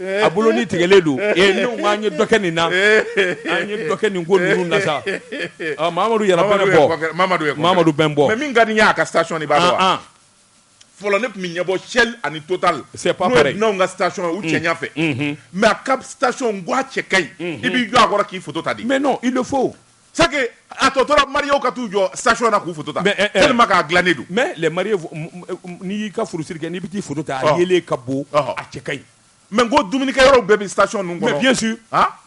a bolo ni tigɛlen don ne an ye dɔkɛ nin na an ye dɔkɛ nin ko ninnu na sa mamadu yɛrɛ bɔ mamadu bɛ bɔ min ka nin y'a ka sa
sɔni b'a fɔlɔ ne tun bɛ ɲɛbɔ cɛ ani tota sep ka
sa u cɛ
fɛ mɛ a ka sa cɛ ka ɲi i b'i jɔ a kɔrɔ k'i ta di mɛ i fo
sa a
tɔ tora mariw ka t'u jɔ saɔn na k'u futa ma k'a dila ne don mɛ
n'i y'i ka furusiri kɛ n'i bɛ taa furu ta a ye ka bon a cɛ ka ɲi mɛ
ko dumunikɛ yɔrɔ bɛɛ bɛ sa ninnu mɛ bi su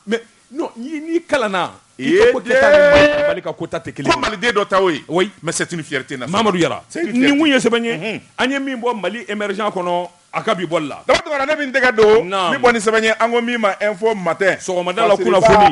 mɛ
n'i kalan na ko
bali ka
kota tɛ kelen maliden dɔ ta ye o
mɛ set ni fite
na
mamadu yala nin
kun ye sɛbɛn ye an ye min bɔ mali emered kɔnɔ a ka bi bɔ la ne min tɛgɛ
don bɔ ni sɛbɛn ye an ko min ma e fɔ matɛ sɔgɔmada la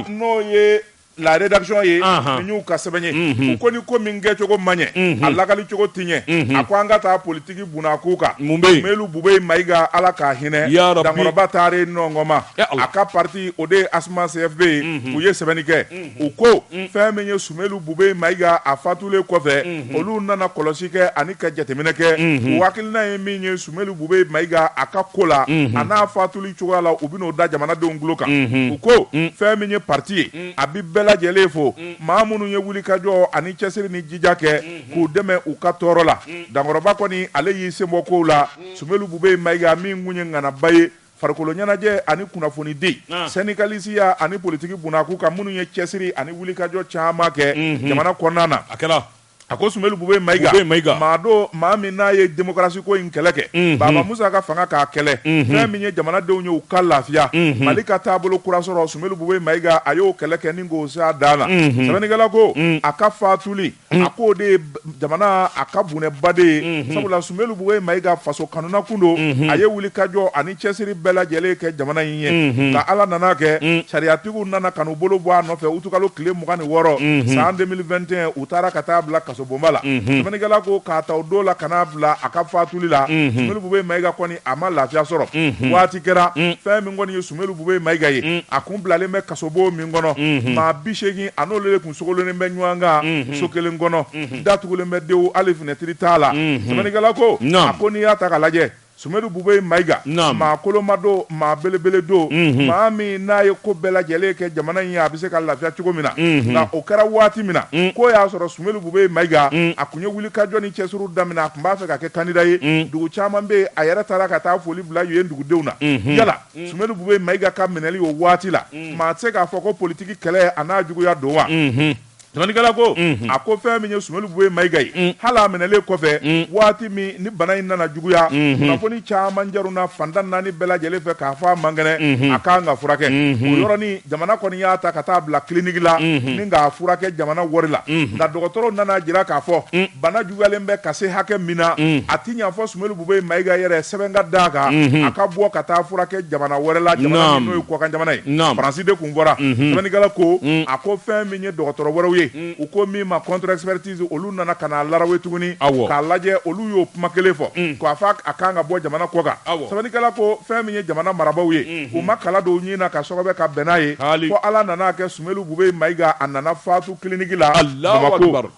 n'o ye
la rédaction ye n y'u ka sɛbɛn ye u ko ni ko min kɛcogo ma ɲɛ a lakali cogo ti ɲɛ a ko an ka taa politigi bon na k'u kan sumɛlu bubɛyi mayiga ala k'a hinɛ dankɔrɔba taare nɔnma a ka pati o de ye ASMA CFP ye u ye sɛbɛnni kɛ u ko fɛn min ye sumɛlu bubɛyi mayiga a fatulen kɔfɛ olu nana kɔlɔsi kɛ ani ka jateminɛ kɛ u hakilina ye min ye Sumɛlu bubɛyi mayiga a ka ko la a n'a fatuli cogoya la u bɛn'o da jamanadenw tulo kan u ko fɛn min ye pati ye a bɛ bɛɛ lajɛlen fo maa minnu ye wulikajɔ ani cɛsiri ni jija kɛ k'u dɛmɛ u ka tɔɔrɔ la dankɔrɔba kɔni ale y'i senbɔ kow la sumɛlu bubɛyi mayiga min kun ye ŋanaba ye farikolo ɲɛnajɛ ani kunnafonidi sendikalisiya ani politigi bon na k'u ka minnu ye cɛsiri ani wulikajɔ caman kɛ jamana kɔnɔna na a kɛra A ko sumɛlu bubɛyi mayiga maa don maa min n'a ye demokarasiko in kɛlɛ kɛ baba musa ka fanga k'a kɛlɛ fɛn min ye jamanadenw ye u ka lafiya mali ka taabolo kura sɔrɔ sumɛlu bubɛyi mayiga a y'o kɛlɛ kɛ ni k'o se a dan na sɛbɛnnikɛla ko a ka fatuli a k'o de ye jamana a ka bɔnɛba de ye sabula sumɛlu bubɛyi mayiga faso kanuna kun don a ye wulikajɔ cɛsiri bɛɛ lajɛlen kɛ jamana in ye nka ala nana kɛ sariyatigiw nana ka n'u bolo bɔ a nɔfɛ utukalo tile mugan ni wɔɔrɔ san 2021 u taara ka taa bila kasobonba la sɛbɛnnikɛla ko k'a ta o don la ka n'a bila a ka fatuli la sumelu bubeye mayiga kɔni a ma lafiya sɔrɔ waati kɛra fɛn min kɔni ye sumelu bubeye mayiga ye a kun bilalen bɛ kasobo min kɔnɔ maa bi seegin a n'olu de kun sogololen bɛ ɲɔgɔn kan so kelen kɔnɔ datugulen bɛ dewu hali finɛtiri t'a la sɛbɛnnikɛla ko a ko n'i y'a ta ka lajɛ Sumelu Bubeye Mayiga, naamu, maa koloma don, maa belebele don, unhun, maa min n'a ye ko bɛɛ lajɛlen kɛ jamana in ye, a bɛ se ka lafiya cogo min na, unhun, nka o kɛra waati min na, un, k'o y'a sɔrɔ Sumelu Bubeye Mayiga, un, a kun ye wulikajɔ ni cɛsiriw daminɛ, a kun b'a fɛ ka kɛ kandida ye, un, dugu caman bɛ yen, a yɛrɛ taara ka taa foli bila yen dugudenw na, unhun, yala un, Sumelu Bubeye Mayiga ka minɛli o waati la, un, maa tɛ se k'a fɔ ko politiki kɛlɛ a n'a juguya don wa? Unhun. Sɛbɛnnikɛla ko, unhun, a ko fɛn min ye Sumelu Bubeye Mayiga ye, un, hali a minɛlen kɔfɛ, un, waati min ni bana in nana juguya, unhun, kunnafoni caman carinna fan tan naani bɛɛ lajɛlen fɛ k'a fɔ a man kɛnɛ, unhun, a ka kan ka furakɛ, unhun, o yɔrɔnin jamana kɔni y'a ta ka taa bila clinique la, unhun, ni k'a furakɛ jamana wari la, unhun, nka dɔgɔtɔrɔw nana jira k'a fɔ, un, bana juguyalen bɛ ka se hakɛ min na, un, a tɛ ɲɛ fo Sumelu Bubeye Mayiga yɛrɛ sɛbɛn ka d'a kan, unhun, a ka bɔ ka taa furakɛ jamana wɛrɛ la, jamana min n'o ye kɔkan jamana ye, France de kun fɔra, unhun, sɛbɛnnikɛla ko, un, a ko fɛn ye dɔgɔtɔrɔ wɛrɛw ye u ko min ma contre expertise olu nana ka n'a larawe tuguni k'a lajɛ olu y'o kuma kelen fɔ k'a fɔ a kan ka bɔ jamana kɔkan sɛbɛnnikɛla ko fɛn min ye jamana marabagaw ye u ma kala don nin na ka sɔgɔbɛ ka bɛn n'a ye fo ala nana kɛ sumelu bubeye mayiga a nana fatu kiliniki la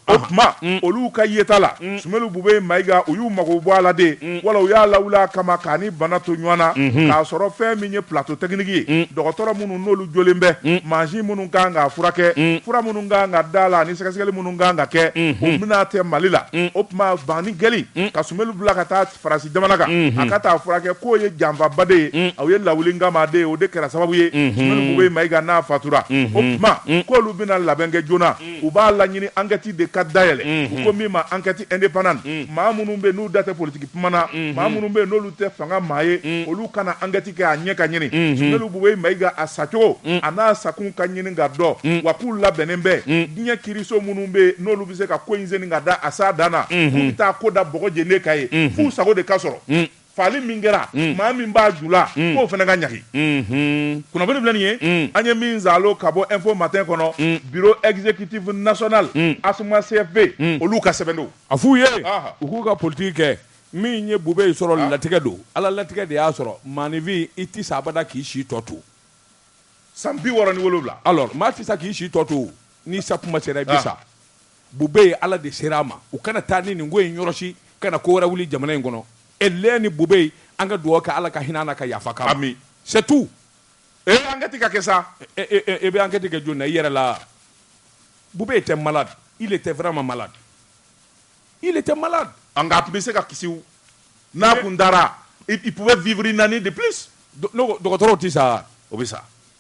o tuma olu ka yeta la sumelu bubeye mayiga u y'u mago bɔ a la de wala u y'a lawuli a kama k'a ni bana to ɲɔgɔn na k'a sɔrɔ fɛn min ye plateau technique ye dɔgɔtɔrɔ minnu n'olu jɔlen bɛ mansin minnu kan k'a furakɛ fura minnu kan ka d'a la ni sɛgɛsɛgɛli minnu kan ka kɛ o bɛna tɛ mali la o tuma banni kɛli ka sumelu bila ka taa faransi jamana kan a ka taa furakɛ k'o ye janfaba de ye a ye lawulinkama de ye o de kɛra sababu ye sumelu bubeye mayiga n'a fatura o tuma k'olu bɛna labɛn kɛ joona u b'a laɲini ankɛti de ka dayɛlɛ u ko min ma ankɛti indépendante maa minnu bɛ n'u da tɛ politiki kuma na maa minnu bɛ n'olu tɛ fanga maa ye olu ka na ankɛti kɛ a ɲɛ ka ɲini sumelu bubeye mayiga a sacogo a n'a sakun ka ɲini ka dɔn wa k'u labɛnnen bɛ diɲɛ kiiriso minnu bɛ n'olu bɛ se ka ko in senni ka taa s'a dan na k'u bɛ taa ko da bɔgɔ jɛlen kan yen f'u sago de ka sɔrɔ faali min kɛra mm. maa min b'a ju la mm. k'o fana ka ɲangi mm-hmm. kunnafoni filɛ nin ye mm. an ye min zalo ka bɔ info matin kɔnɔ bureau exécutif national asma cfp olu ka sɛbɛn don a f'u ye
u k'u ka politiki kɛ min ye bubeye sɔrɔ ah. latigɛ don ala latigɛ de y'a sɔrɔ maanifin i ti sa abada k'i si tɔ to san
bi wɔɔrɔ ni wolowula alors maa ti sa k'i
si tɔ to ni sa kuma sera i bi ah. sa Bube ye ala de sera a ma u kana taa ni nin ko in yɔrɔ si kana ko wɛrɛ wuli jamana in kɔnɔ e lɛn ni bube yen an ka dugawu kɛ ala ka hinɛ na ka yafa k'a ma c'est tout enquête
ka kɛ sa e bɛ enquête
kɛ jɔn na i yɛrɛ la bube était malade il était vraiment malade il était malade nka a tun bɛ se
ka kisi n'a kun dara il pouvait vivre une année de plus dɔgɔtɔrɔw tɛ
sa o bɛ sa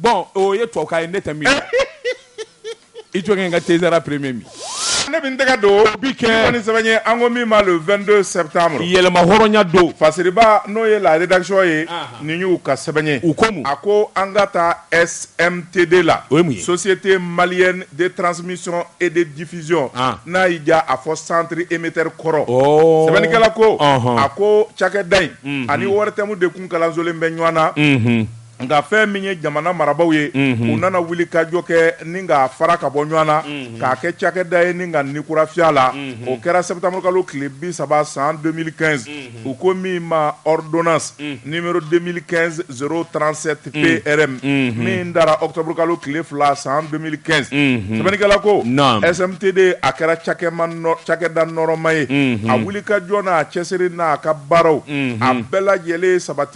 Bɔn
o ye tubabukan ye ne tɛ min i jɔ in ka tɛzra premier min ne bɛ n tɛgɛ
don bi kɛ ni sɛbɛn ye an ko min ma le 22 septembre yɛrɛmahɔrɔnya don
fasiriba n'o ye la
rédaction ye nin y'u ka sɛbɛn ye u ko a ko
an ka
taa SMTD la o ye Société Malienne de Transmission et de Diffusion n'a y'i diya a fɔ centre émetteur kɔrɔ sɛbɛnnikɛla ko a ko cakɛda in ani ORTM de tun kalansolen bɛ ɲɔgɔn na nka fɛn min ye jamana marabaw ye u nana wulikajɔ kɛ ni ka fara ka bɔ ɲɔgɔn na k'a kɛ cakɛda ye ni ka ni kura fiyɛ a la o kɛra septembre kalo tile bi saba san 2015 u ko min ma ordonnance numéro 2015 037 PRM min dara octobre kalo tile fila san 2015 sɛbɛnnikɛla ko SMTD a kɛra cakɛda nɔrɔma ye a wuli ka jɔ n'a cɛsiri n'a ka baaraw a bɛɛ lajɛlen sabati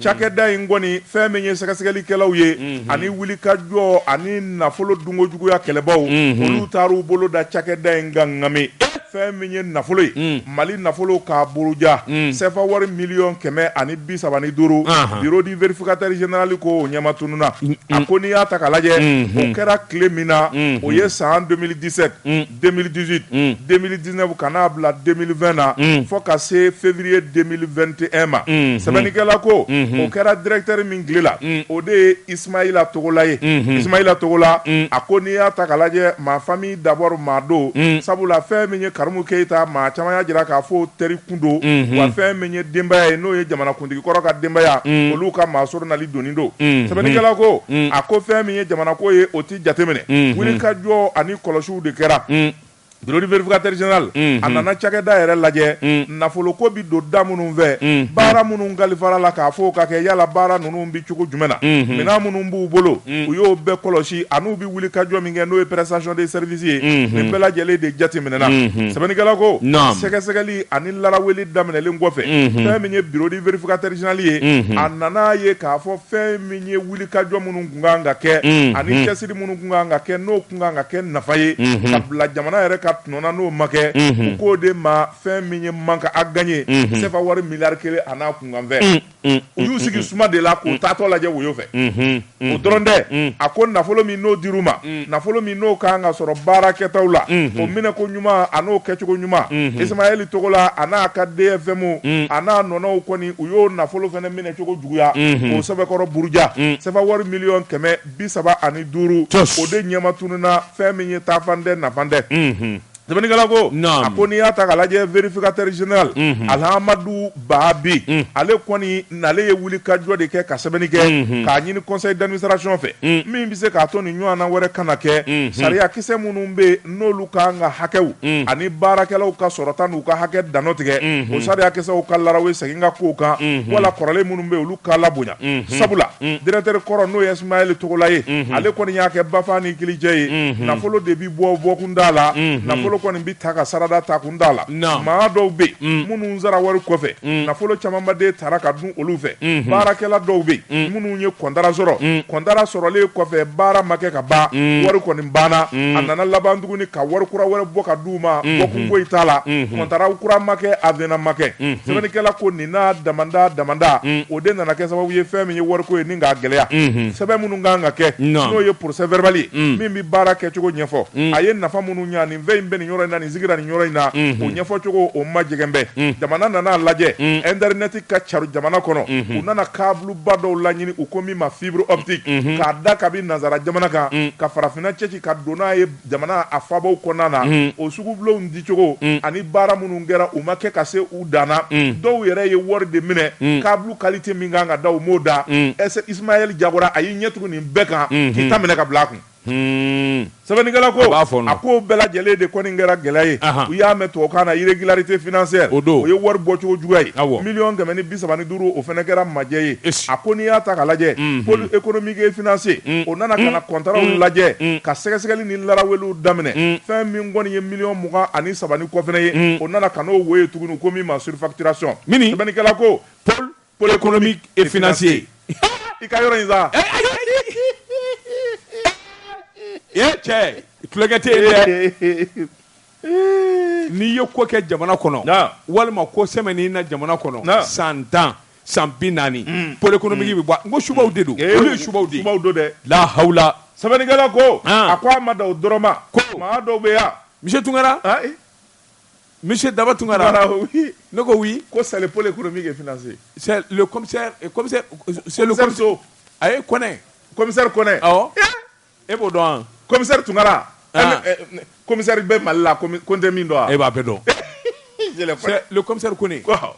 cakɛda in kɔni fɛn min ye sɛgɛsɛgɛlikɛlaw ye ani wuli ka jɔ ani nafolo dunko juguyaya kɛlɛbaw olu taara u bolo da cakɛda in ka ŋami fɛn min ye nafolo ye mali nafolo k'a buruja sefa wari miliyɔn kɛmɛ ani bi saba ni duuru bureau du vérificateur général ko o ɲɛma tununa a ko n'i y'a ta k'a lajɛ o kɛra tile min na o ye san 2017 2018 mm. 2019 ka n'a bila 2020 na mm. fo ka se février 2021 ma mm. sɛbɛnnikɛla ko mm -hmm. o kɛra directeur min tile la mm. o de ye Ismaïla Togola ye mm -hmm. Ismaïla Togola mm. a ko n'i y'a ta k'a lajɛ ma famille d'abord maa don mm. sabula fɛn min ye Karimu Keita maa caman y'a jira k'a fɔ teri kun don mm -hmm. wa fɛn min ye denbaya ye n'o ye jamanakuntigi kɔrɔ ka denbaya mm. olu ka maa soronali donni don mm. sɛbɛnnikɛla ko mm. a ko fɛn min ye jamanako ye o ti jateminɛ wuli ka jɔ ani kɔlɔsiw de kɛra bureau du vérificateur général a nana cakɛda yɛrɛ lajɛ nafolo ko bɛ don da minnu fɛ baara minnu kalifara la k'a fɔ ka kɛ yala baara ninnu bɛ cogo jumɛn na minɛn minnu b'u bolo u y'o bɛɛ kɔlɔsi an'u bɛ wuli ka jɔ min kɛ n'o ye prestation de service ye nin bɛɛ lajɛlen de jateminɛna sɛbɛnnikɛla ko sɛgɛsɛgɛli ani laara wele daminɛlen kɔfɛ fɛn min ye bureau du vérificateur général ye a nana ye k'a fɔ fɛn min ye wuli ka jɔn minnu kan ka kɛ ani cɛsiri minnu tun kan ka kɛ n'o tun kan ka kɛ nafa ye ka bila jamana yɛrɛ ka tɔnɔ na n'o ma kɛ u k'o de ma fɛn min ye manque à gagner CFA wari miliyari kelen a n'a kunkanfɛn u y'u sigi suma de la k'u taatɔ lajɛ woyo fɛ o dɔrɔn tɛ a ko nafolo min n'o dir'u ma nafolo min n'o ka kan ka sɔrɔ baarakɛtaw la o minɛko ɲuman a n'o kɛcogo ɲuman Ismaël Togola a n'a ka DFM a n'a nɔnɔw kɔni u y'o nafolo fana minɛcogo juguya k'o sɛbɛkɔrɔ buruja CFA wari miliyɔn kɛmɛ bi saba ani duuru o de ɲɛma tununna fɛn min ye taafan tɛ nafan tɛ sɛbɛnnikɛla ko a ko n'i y'a ta k'a lajɛ vérificateur général Alhamdou Baby ale kɔni nalen ye wulikajɔ de kɛ ka sɛbɛnni kɛ k'a ɲini conseil d'administration fɛ min bɛ se k'a to nin ɲɔgɔnna wɛrɛ kana kɛ sariyakisɛ minnu bɛ n'olu ka kan ka hakɛw unhun ani baarakɛlaw ka sɔrɔta n'u ka hakɛ dannɔ tigɛ unhun o sariyakisɛw ka larawe segin ka kow kan unhun wala kɔrɔlen minnu bɛ yen olu ka labonya unhun sabula unhun directeur kɔrɔ n'o ye Ismaël Togola ye unhun ale kɔni y'a kɛ Bafa ni Kilijɛ ye unhun nafolo de bɛ bɔ bɔkun t'a la unhun nafolo kɔni bɛ ta ka sarada takun t'a la naamu maa dɔw bɛ yen unhun minnu sara wari kɔfɛ unhun nafolo camanba de tara ka dun olu fɛ baarakɛla dɔw bɛ yen minnu ye kɔntara sɔrɔ kɔntara sɔrɔlen kɔfɛ baara ma kɛ ka ban wari kɔni banna a nana laban tuguni ka wari kura wɛrɛ bɔ ka di u ma bɔkun foyi t'a la kɔntara kura ma kɛ avenant ma kɛ sɛbɛnnikɛla ko nin n'a damada damada o de nana kɛ sababu ye fɛn min ye wariko ye nin k'a gɛlɛya sɛbɛn minnu kan ka kɛ n'o ye procès verbal ye min bɛ baara kɛcogo ɲɛfɔ a ye nafa minnu ɲ fɛn in bɛ nin yɔrɔ in na nin sigira nin yɔrɔ in na o ɲɛfɔcogo o ma jɛgɛbɛn jamana nan'a lajɛ internet ka caru jamana kɔnɔ u nana kabuluba dɔw laɲini u ko min ma fibre optique k'a da kabi nanzara jamana kan ka farafinna cɛci ka don n'a ye jamana a faabaw kɔnɔna na o sugubulonw dicogo ani baara minnu kɛra u ma kɛ ka se u dan na dɔw yɛrɛ ye wari de minɛ kabulu qualité min kan ka da u m'o da Ismaël Togola a y'i ɲɛ tugu nin bɛɛ kan k'i ta minɛ ka bila a kun Sɛbɛnnikɛla ko a ko bɛɛ lajɛlen de kɔni kɛra gɛlɛya ye u y'a mɛn tubabukan na irrégularité financière o ye wari bɔcogo juguya ye miliyɔn kɛmɛ ni bi saba ni duuru o fana kɛra majɛ ye a ko n'i y'a ta k'a lajɛ pôle économique et financier o nana ka na kɔntaraw lajɛ ka sɛgɛsɛgɛli ni laraweliw daminɛ fɛn min kɔni ye miliyɔn mugan ani saba ni kɔ fana ye o nana ka n'o wo ye tuguni u ko min ma surfacturation sɛbɛnnikɛla ko pôle économique et financier i ka yɔrɔ in
sa e cɛ tulokɛ tɛ yen dɛ n'i ye ko kɛ jamana kɔnɔ Naamu. walima ko sɛmɛ n'i na jamana kɔnɔ Naamu. san tan san bi naani pôle économique bɛ bɔ a- n ko subaw de don olu ye subaw de ye subaw don dɛ la
hawla
sɛbɛnnikɛla ko
Ah. a ko a ma dan o dɔrɔn ma Ko. maa dɔw bɛ yan monsieur Tunkara ayi
Misi daba tun ne ko ko salepoli kɔnɔ min
kɛmimuso
a ye kɔnɛmi kɔnɛ e b'o dɔn kɔmiri tunkara
kɔmiri bɛ mali la ko tɛ min dɔn e b'a bɛ
dɔnmisari ko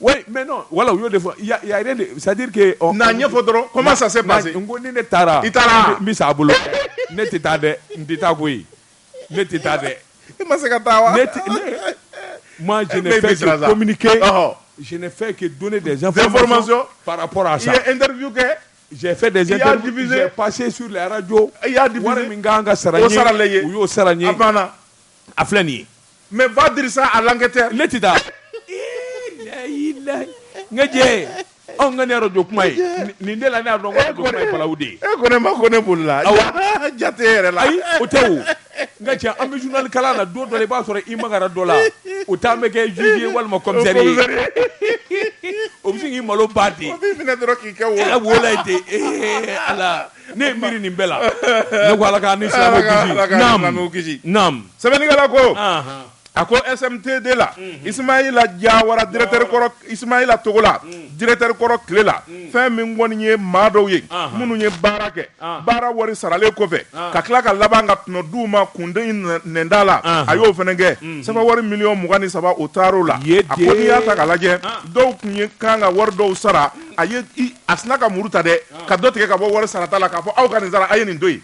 Oui mais non voilà u y'o de fɔ il y a rien de c'est-à-dire que ɔ n'a ɲɛfɔ dɔrɔn comment
ça s'est passé n ko ni ne taara
i taara n bɛ sa a bolo ne tɛ taa dɛ n tɛ taa koyi ne tɛ taa dɛ i ma se ka taa wa ne tɛ ne moi je n'ai fait que communiquer je n'ai fait que donner des informations par rapport à ça i ye interview
kɛ j'ai fait
des interviews j'ai passé sur les radios i y'a diffusé wari min ka
kan ka sara n ye o
sarala i ye u y'o sara n ye a banna a filɛ nin ye Mais
va dire ça à l'enquêteur ne
tɛ taa n ka cɛ anw ka nin arajo kuma ye nin de la ne y'a dɔn ko arajo kuma ye balawu de ye e ko ne ma ko ne bolila
awa jate yɛrɛ la ayi o tɛ
o n ka cɛ an bɛ journal kalan na don dɔ la i b'a sɔrɔ i magara dɔ la o t'an bɛ kɛ juge ye walima commissaire ye o bɛ sin k'i malo ba ten o b'i minɛ dɔrɔn k'i kɛ
wo la wo la ye ten ee
ala ne ye miiri nin bɛɛ la ne ko Ala k'an ni silamɛw kisi Ala k'an ni naam silamɛw kisi. naam sɛbɛnnikɛla
ko Ahan. a ko SMTD la isimayila jawara directeur kɔrɔ isimayila Togola directeur kɔrɔ tile la fɛn min kɔni ye maa dɔw ye Ahan. minnu ye baara kɛ Ahan. baara wari saralen kɔfɛ Ahan. ka tila ka laban ka tɔnɔ d'u ma kunden in nɛ- nɛnda la Ahan. a y'o fɛnɛ kɛ sefa wari miliyɔn mugan ni saba o taar'o la Ye a ko n'i y'a ta k'a lajɛ Ahan. dɔw tun ye kan ka wari dɔw sara a ye a sinna ka muru ta dɛ ka dɔ tigɛ ka bɔ wari sarata la k'a fɔ aw ka nin sara a ye nin to yen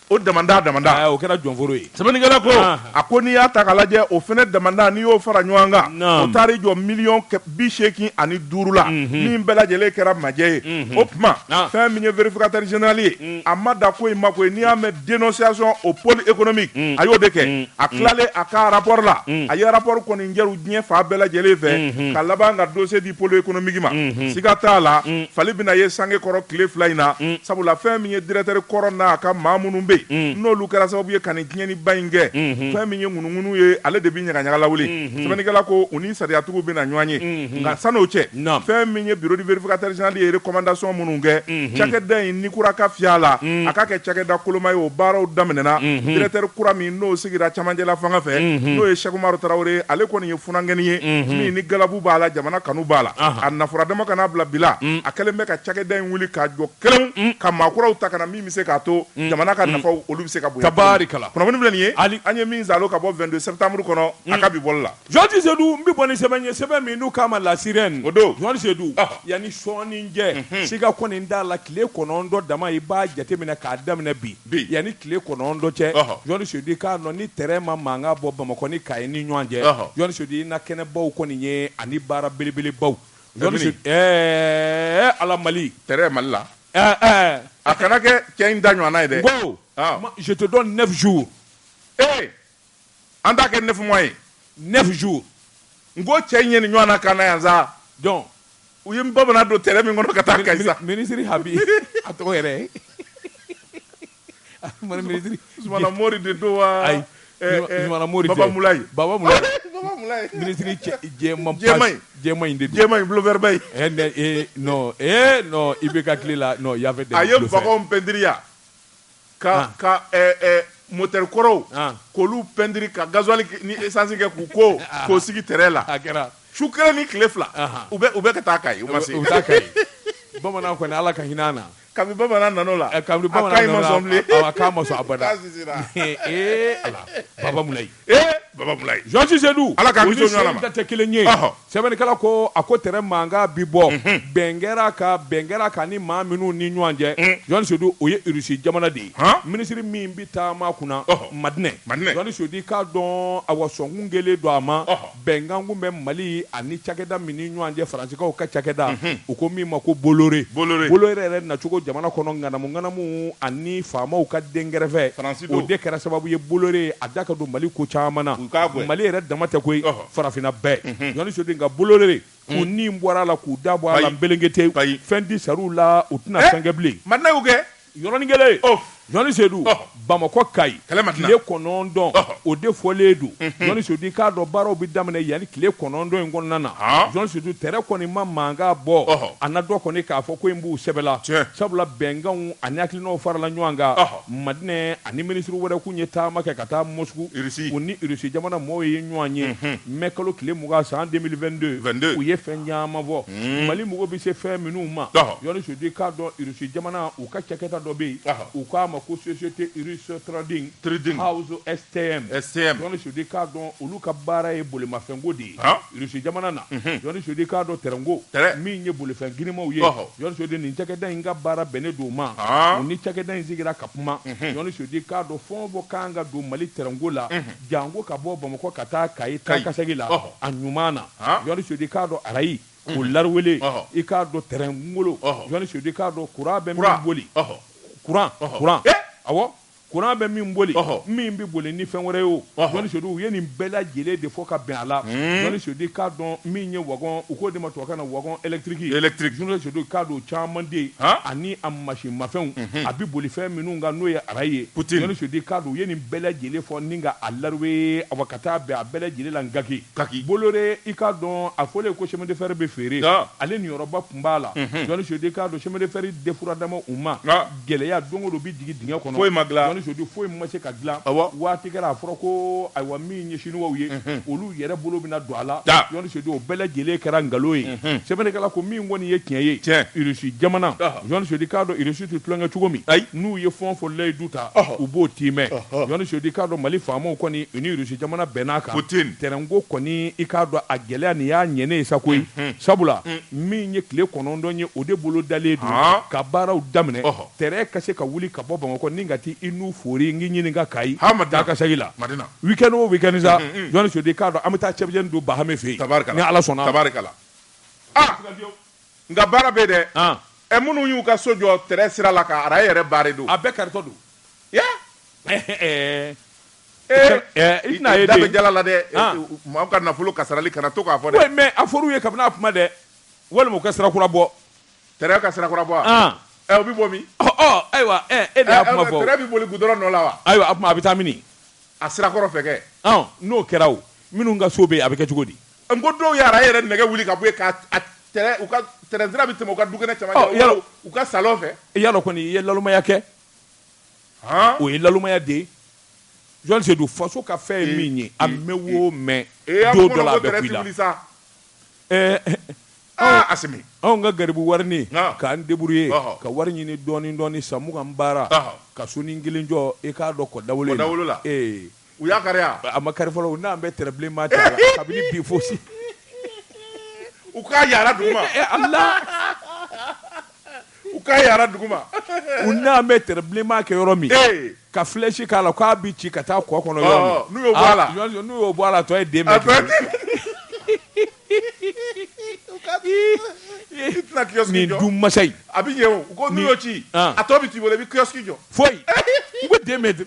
o damanda o kɛra
jɔnforo ye sɛbɛnnikɛla ko a
ko n'i y'a ta k'a lajɛ o fana damanda n'i y'o fara ɲɔgɔn kan o taar'i jɔ miliyɔn bi seegin ani duuru la min bɛɛ lajɛlen kɛra majɛ ye o tuma fɛn min ye vérificateur général ye a ma da ko in ma koyi n'i y'a mɛn dénonciation au pôle économique a y'o de kɛ a tilalen a ka arapɔri la a ye arapɔri kɔni jɛru diɲɛ fan bɛɛ lajɛlen fɛ ka laban ka dossier pôle économique ma siga t'a la fali bɛna ye sange kɔrɔ tile fila in na sabula fɛn min ye directeur kɔrɔ n'a ka maa minnu bɛ yen n'olu kɛra sababu ye ka tiɲɛniba in kɛ fɛn min ye ŋunuŋunu ye ale de bɛ ɲagaɲaga lawuli sɛbɛnnikɛla ko u ni sariyatigiw bɛna ɲɔgɔn ye nka san'o cɛ fɛn min ye bureau du vérificateur général ye recommandation minnu kɛ cakɛda in ni kura ka fiy'a la a ka kɛ cakɛda koloma ye o baaraw daminɛna directeur kura min n'o sigira cɛmancɛla fanga fɛ n'o ye Cheikh Umaru Tarawele ale kɔni funankɛnin ye min ni galabu b'a la jamana kanu b'a la a n'a fɔra dama kan'a bila bila a kɛlen bɛ ka cakɛda in wuli k'a jɔ kelen ka maa kuraw ta ka na min bɛ se k'a to jamana ka nafa olu bɛ se ka bonya tabarikala kunnafoni filɛ nin ye an ye min zalo ka bɔ vingt-deux septembre kɔnɔ a ka bi bɔli la Jean Sedou n bɛ
bɔ ni sɛbɛn ye sɛbɛn min n'u k'a ma La Sirène o don Jean
Sedou yanni
sɔɔni cɛ siga kɔni t'a la tile kɔnɔntɔn dama i b'a jateminɛ k'a daminɛ bi bi yanni tile kɔnɔntɔn cɛ jɔni sedu k'a dɔn ni tɛrɛn ma mankan bɔ bamakɔ ni kayi ni ɲɔgɔn cɛ jɔni sedu i na kɛnɛbaw kɔni ye ani baara belebelebaw ɛɛ ala mali tɛrɛn mali
la a kana kɛ cɛ in ta ɲɔgɔnna ye dɛ ko
je te donne neuf jours
an t'a kɛ neuf mois ye neuf
jours n ko
cɛ in ye nin ɲɔgɔnna k'an na yan sa
donc u ye
bamanan don tɛrɛn min kɔnɔ ka taa kayi sa minisiri habi
a tɔgɔ yɛrɛ ye mani minisiri zumana mori
de don wa ayi eh,
eh, zumana mori baba mulayi baba
mulayi baba
mulayi minisiri jɛman jɛman in jɛman in de don jɛman in blofɛriba in eh
ne eh
non
eh
non i
bɛ ka
tile la non
il y
avait des a ye wagɔnw
pɛntiri ya Ka ka motɛri kɔrɔw k'olu pɛntiri ka gazuwali ni esansi kɛ k'o sigi tɛrɛn la a kɛra su kelen ni tile fila u bɛ ka taa kayi u ma se
u bamanan kɔni ala ka hinɛ an na kabini bamanan
nan'o la
ka bamanan ma a Jɔni sedu ala
ka tɛ kelen
ye sɛbɛnnikɛla ko a ko tɛrɛn mankan bi bɔ bɛn kɛra ka bɛn kɛra ka ni maa minnu ni ɲɔgɔn cɛ jɔni sedu o ye irisi jamana de ye minisiri min bɛ taama kunna madinɛ jɔni sedu k'a dɔn a wa sɔnkun kelen don a ma bɛnkan kun bɛ Mali ani cakɛda min ni ɲɔgɔn cɛ Faransikaw ka cakɛda, unhun, u ko min ma ko Bolloré, Bolloré, Bolloré yɛrɛ nacogo jamana kɔnɔ ŋanamu ŋanamu ani faamaw ka dɛnkɛrɛfɛ, Faransi don, o de kɛra sababu ye Bolloré ye a da ka don Mali ko caman na, u k'a gɛn, Mali yɛrɛ dama tɛ koyi, ɔhɔ, farafinna bɛɛ, unhun, Jɔni Sedu, nka Bolloré k'u ni bɔra a la k'u da bɔ a la nbelengetewu, bayi, fɛn tɛ sara u la u tɛna fɛn kɛ bilen, Madina y'u gɛn
Yɔrɔnin kelen,
ɔh, Jɔni Sedu, ɔh, Bamakɔ Kayi, kɛlɛ ma tila, tile kɔnɔntɔn, ɔh, o de fɔlen don, unhun, Jɔni Sedu i k'a dɔn baaraw bɛ daminɛ yanni tile kɔnɔntɔn in kɔnɔna na, ɔɔ, Jɔni Sedu tɛrɛn kɔni ma mankan bɔ, ɔhɔ, a na dɔn kɔni k'a fɔ ko in b'u sɛbɛ la, tiɲɛ, sabula bɛnkanw ani hakilinaw farala ɲɔgɔn kan, ɔhɔ, Madinɛ ani minisiri wɛrɛ kun ye taama kɛ ka taa Mɔsku, Irisi, u ni Irisi jamana mɔɔw ye ɲɔgɔn ye, unhun, mɛkalo tile mugan san 2022, 22, u ye fɛn caman fɔ. Unhun. Mali mago bɛ se fɛn minnu ma, ɔhɔ, Jɔni Sedu k'a dɔn Russie jamana u ka cakɛda dɔ bɛ yen, ɔhɔ, u k'a ma ko société russe trading, trading, house STM, STM, Jɔni Sedu k'a dɔn olu ka baara ye bolimafɛnko de ye, han, Russie jamana na, unhun, Jɔni Sedu k'a dɔn train ko, train, min ye bolifɛn girimanw ye, ɔhɔ, Jɔni Sedu nin cakɛda in ka baara bɛnnen don o ma, haan, u ni cakɛda in sigira ka kuma, unhun, Jɔni Sedu k'a dɔn fɛn o fɛn ka kan ka don Mali train ko la, unhun. Jango ka bɔ Bamakɔ ka taa Kayi taakasegin la, a ɲuman na, Jɔni Sedu k'a dɔn arayi, o lariwele, i k'a dɔn tɛrɛn kungolo, Jɔni Sedu k'a dɔn kuran bɛ min boli, kuran, kuran, awɔ, kuran bɛ min boli, min bɛ boli ni fɛn wɛrɛ ye o, Jɔni Sedu, u ye nin bɛɛ lajɛlen de fɔ ka bɛn a la, Jɔni Sedu k'a dɔn min ye wagon, u k'o de ma tubabukan na wagon électrique, électrique, Jɔni Sedu k'a dɔn o caman de ani a masinmafɛnw a bɛ boli fɛn minnu kan n'o ye arayi ye Jɔni Sedu k'a dɔn u ye nin bɛɛ lajɛlen fɔ ni ka a larube awa ka taa bɛn a bɛɛ lajɛlen la Nkaki Bolloré i k'a dɔn a fɔlen ko chemin de fer bɛ feere Ɔɔ ale niyɔrɔba tun b'a la Jɔni Sedu k'a dɔn chemin de fer defuradama u ma Ɔɔ gɛlɛya don o don u bɛ jigin dingɛ kɔnɔ foyi ma dilan Jɔni Sedu foyi
ma se ka
dilan awa waati kɛra a fɔra ko ayiwa min ye siniwaw ye olu yɛrɛ bolo bɛna don a la Jɔni Sedu o bɛɛ lajɛlen kɛra nkalon ye sɛbɛnnikɛla ko min kɔni ye tiɲɛ ye Irisi jamana Jɔni Sedu k'a dɔn irisi tɛ tulonkɛ cogo min ayi n'u ye fɛn o fɛn layidu ta u b'o tiimɛ Jɔni Sedu k'a dɔn Mali faamaw kɔni u ni Irisi jamana bɛnn'a kan tɛrɛnko kɔni i k'a dɔn a gɛlɛya nin y'a ɲɛnen ye sa koyi sabula min ye tile kɔnɔntɔn ye o de bolodalen don ka baaraw daminɛ Tɛrɛn ka se ka wuli ka bɔ Bamakɔ ni ka taa i nu foori n k'i ɲininka Kayi taakasegin la week end o week end sa Jɔni Sedu i k'a dɔn an bɛ taa cɛbujɛni dun Bahame fɛ yen ni Ala sɔnna a ma. Ah!
Nka baara bɛ yen dɛ! Ɛ minnu y'u ka so jɔ tɛrɛn sira la ka arayi yɛrɛ baare don. A bɛɛ karitɔ
don.
Yah! Ee! I tɛna ye den. Da bɛ jala la dɛ! Maaw ka nafolo kasarali kana to k'a fɔ dɛ! Oui mais a fɔr'u ye kabini a
kuma dɛ! Walima u ka sira kura bɔ. Tɛrɛn ka
sirakura bɔ o bɛ bɔ min
ayiwa e de y'a kuma fɔ tɛrɛn bɛ boli gudɔrɔn nɔ
la wa ayiwa a a bɛ taa
min a sirakɔrɔ
fɛ kɛ n'o kɛra
minnu ka so bɛ yen a bɛ kɛ cogo di ko dɔw
y'a yɛrɛ nɛgɛ wuli ka bɔ u ka tɛrɛn sira bɛ tɛmɛ u ka dukɛnɛ u ka salon fɛ i y'a dɔn kɔni i ye
nalonmaya kɛ o ye nalonmaya de ye Jɔni Sedu faso ka fɛn ye min ye a mɛn o mɛn sa a Asimi anw
ka garibu
warinin k'an débrouiller ka wari ɲini dɔɔnin dɔɔnin san mugan baara ka sonin kelen jɔ e k'a dɔn kɔ dawolo la ee u y'a
kari a ma kari fɔlɔ u nana
pɛntiri bilenman t'a la kabini bi
fosi u k'a yaara dugu ma U k'a yaara dugu ma u nana
pɛntiri bilenman kɛ yɔrɔ min ka filɛsi k'a la k'a bɛ ci ka taa kɔ kɔnɔ n'u n'u y'o
bɔ a la tɔ ye
den ka kɛ min du masa a bɛ ɲɛ u ko
n'u ci a tɔ bɛ t'i bolo i bɛ kiosque jɔ foyi i
bɛ den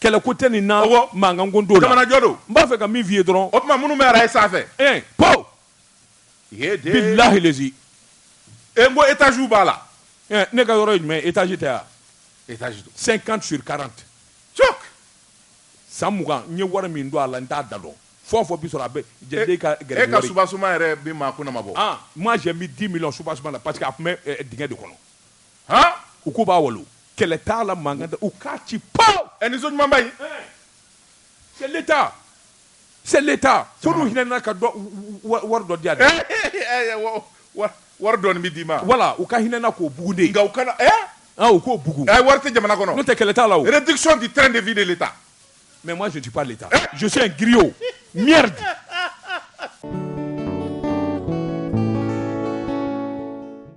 kɛlɛko tɛ nin na mankanko t'o la jamanajɔ don n b'a fɛ ka
min f'i ye
dɔrɔn o tuma minnu bɛ arayi
sanfɛ ɛɛ
paw bilahi lezi e n ko
etaziw b'a la ne ka yɔrɔ ye
jumɛn etazi tɛ yan etazi
don cinquante
sur quarante cɔk san mugan n ye wari min don a la n t'a da dɔn fɔ o fɔ bi sɔrɔ a bɛ jɛden ka gɛrɛ wari e ka soubassement yɛrɛ
bi maa kunna ma bɔ ah moi j'ai mis 10
millions soubassement la parce que a tun bɛ dingɛ de kɔnɔ han, u k'u b'a walo, kɛlɛ t'a la, mankan t'a la, u k'a ci pawu! Ɛ nin so ɲumanba
in, c'est
l'Etat, c'est l'Etat, fo n'u hinɛna ka wari dɔ di a tigi ma,
wari dɔɔni bɛ d'i ma, voilà u ka hinɛ an na
k'o bugun dɛ, nka u
kana, ɛ, u k'o
bugun, ɛ wari tɛ jamana kɔnɔ, n'o
tɛ kɛlɛ t'a la
o, réduction du train de vie
de
l'Etat, mais
moi je
ne suis pas l'Etat, je suis un griot, merde.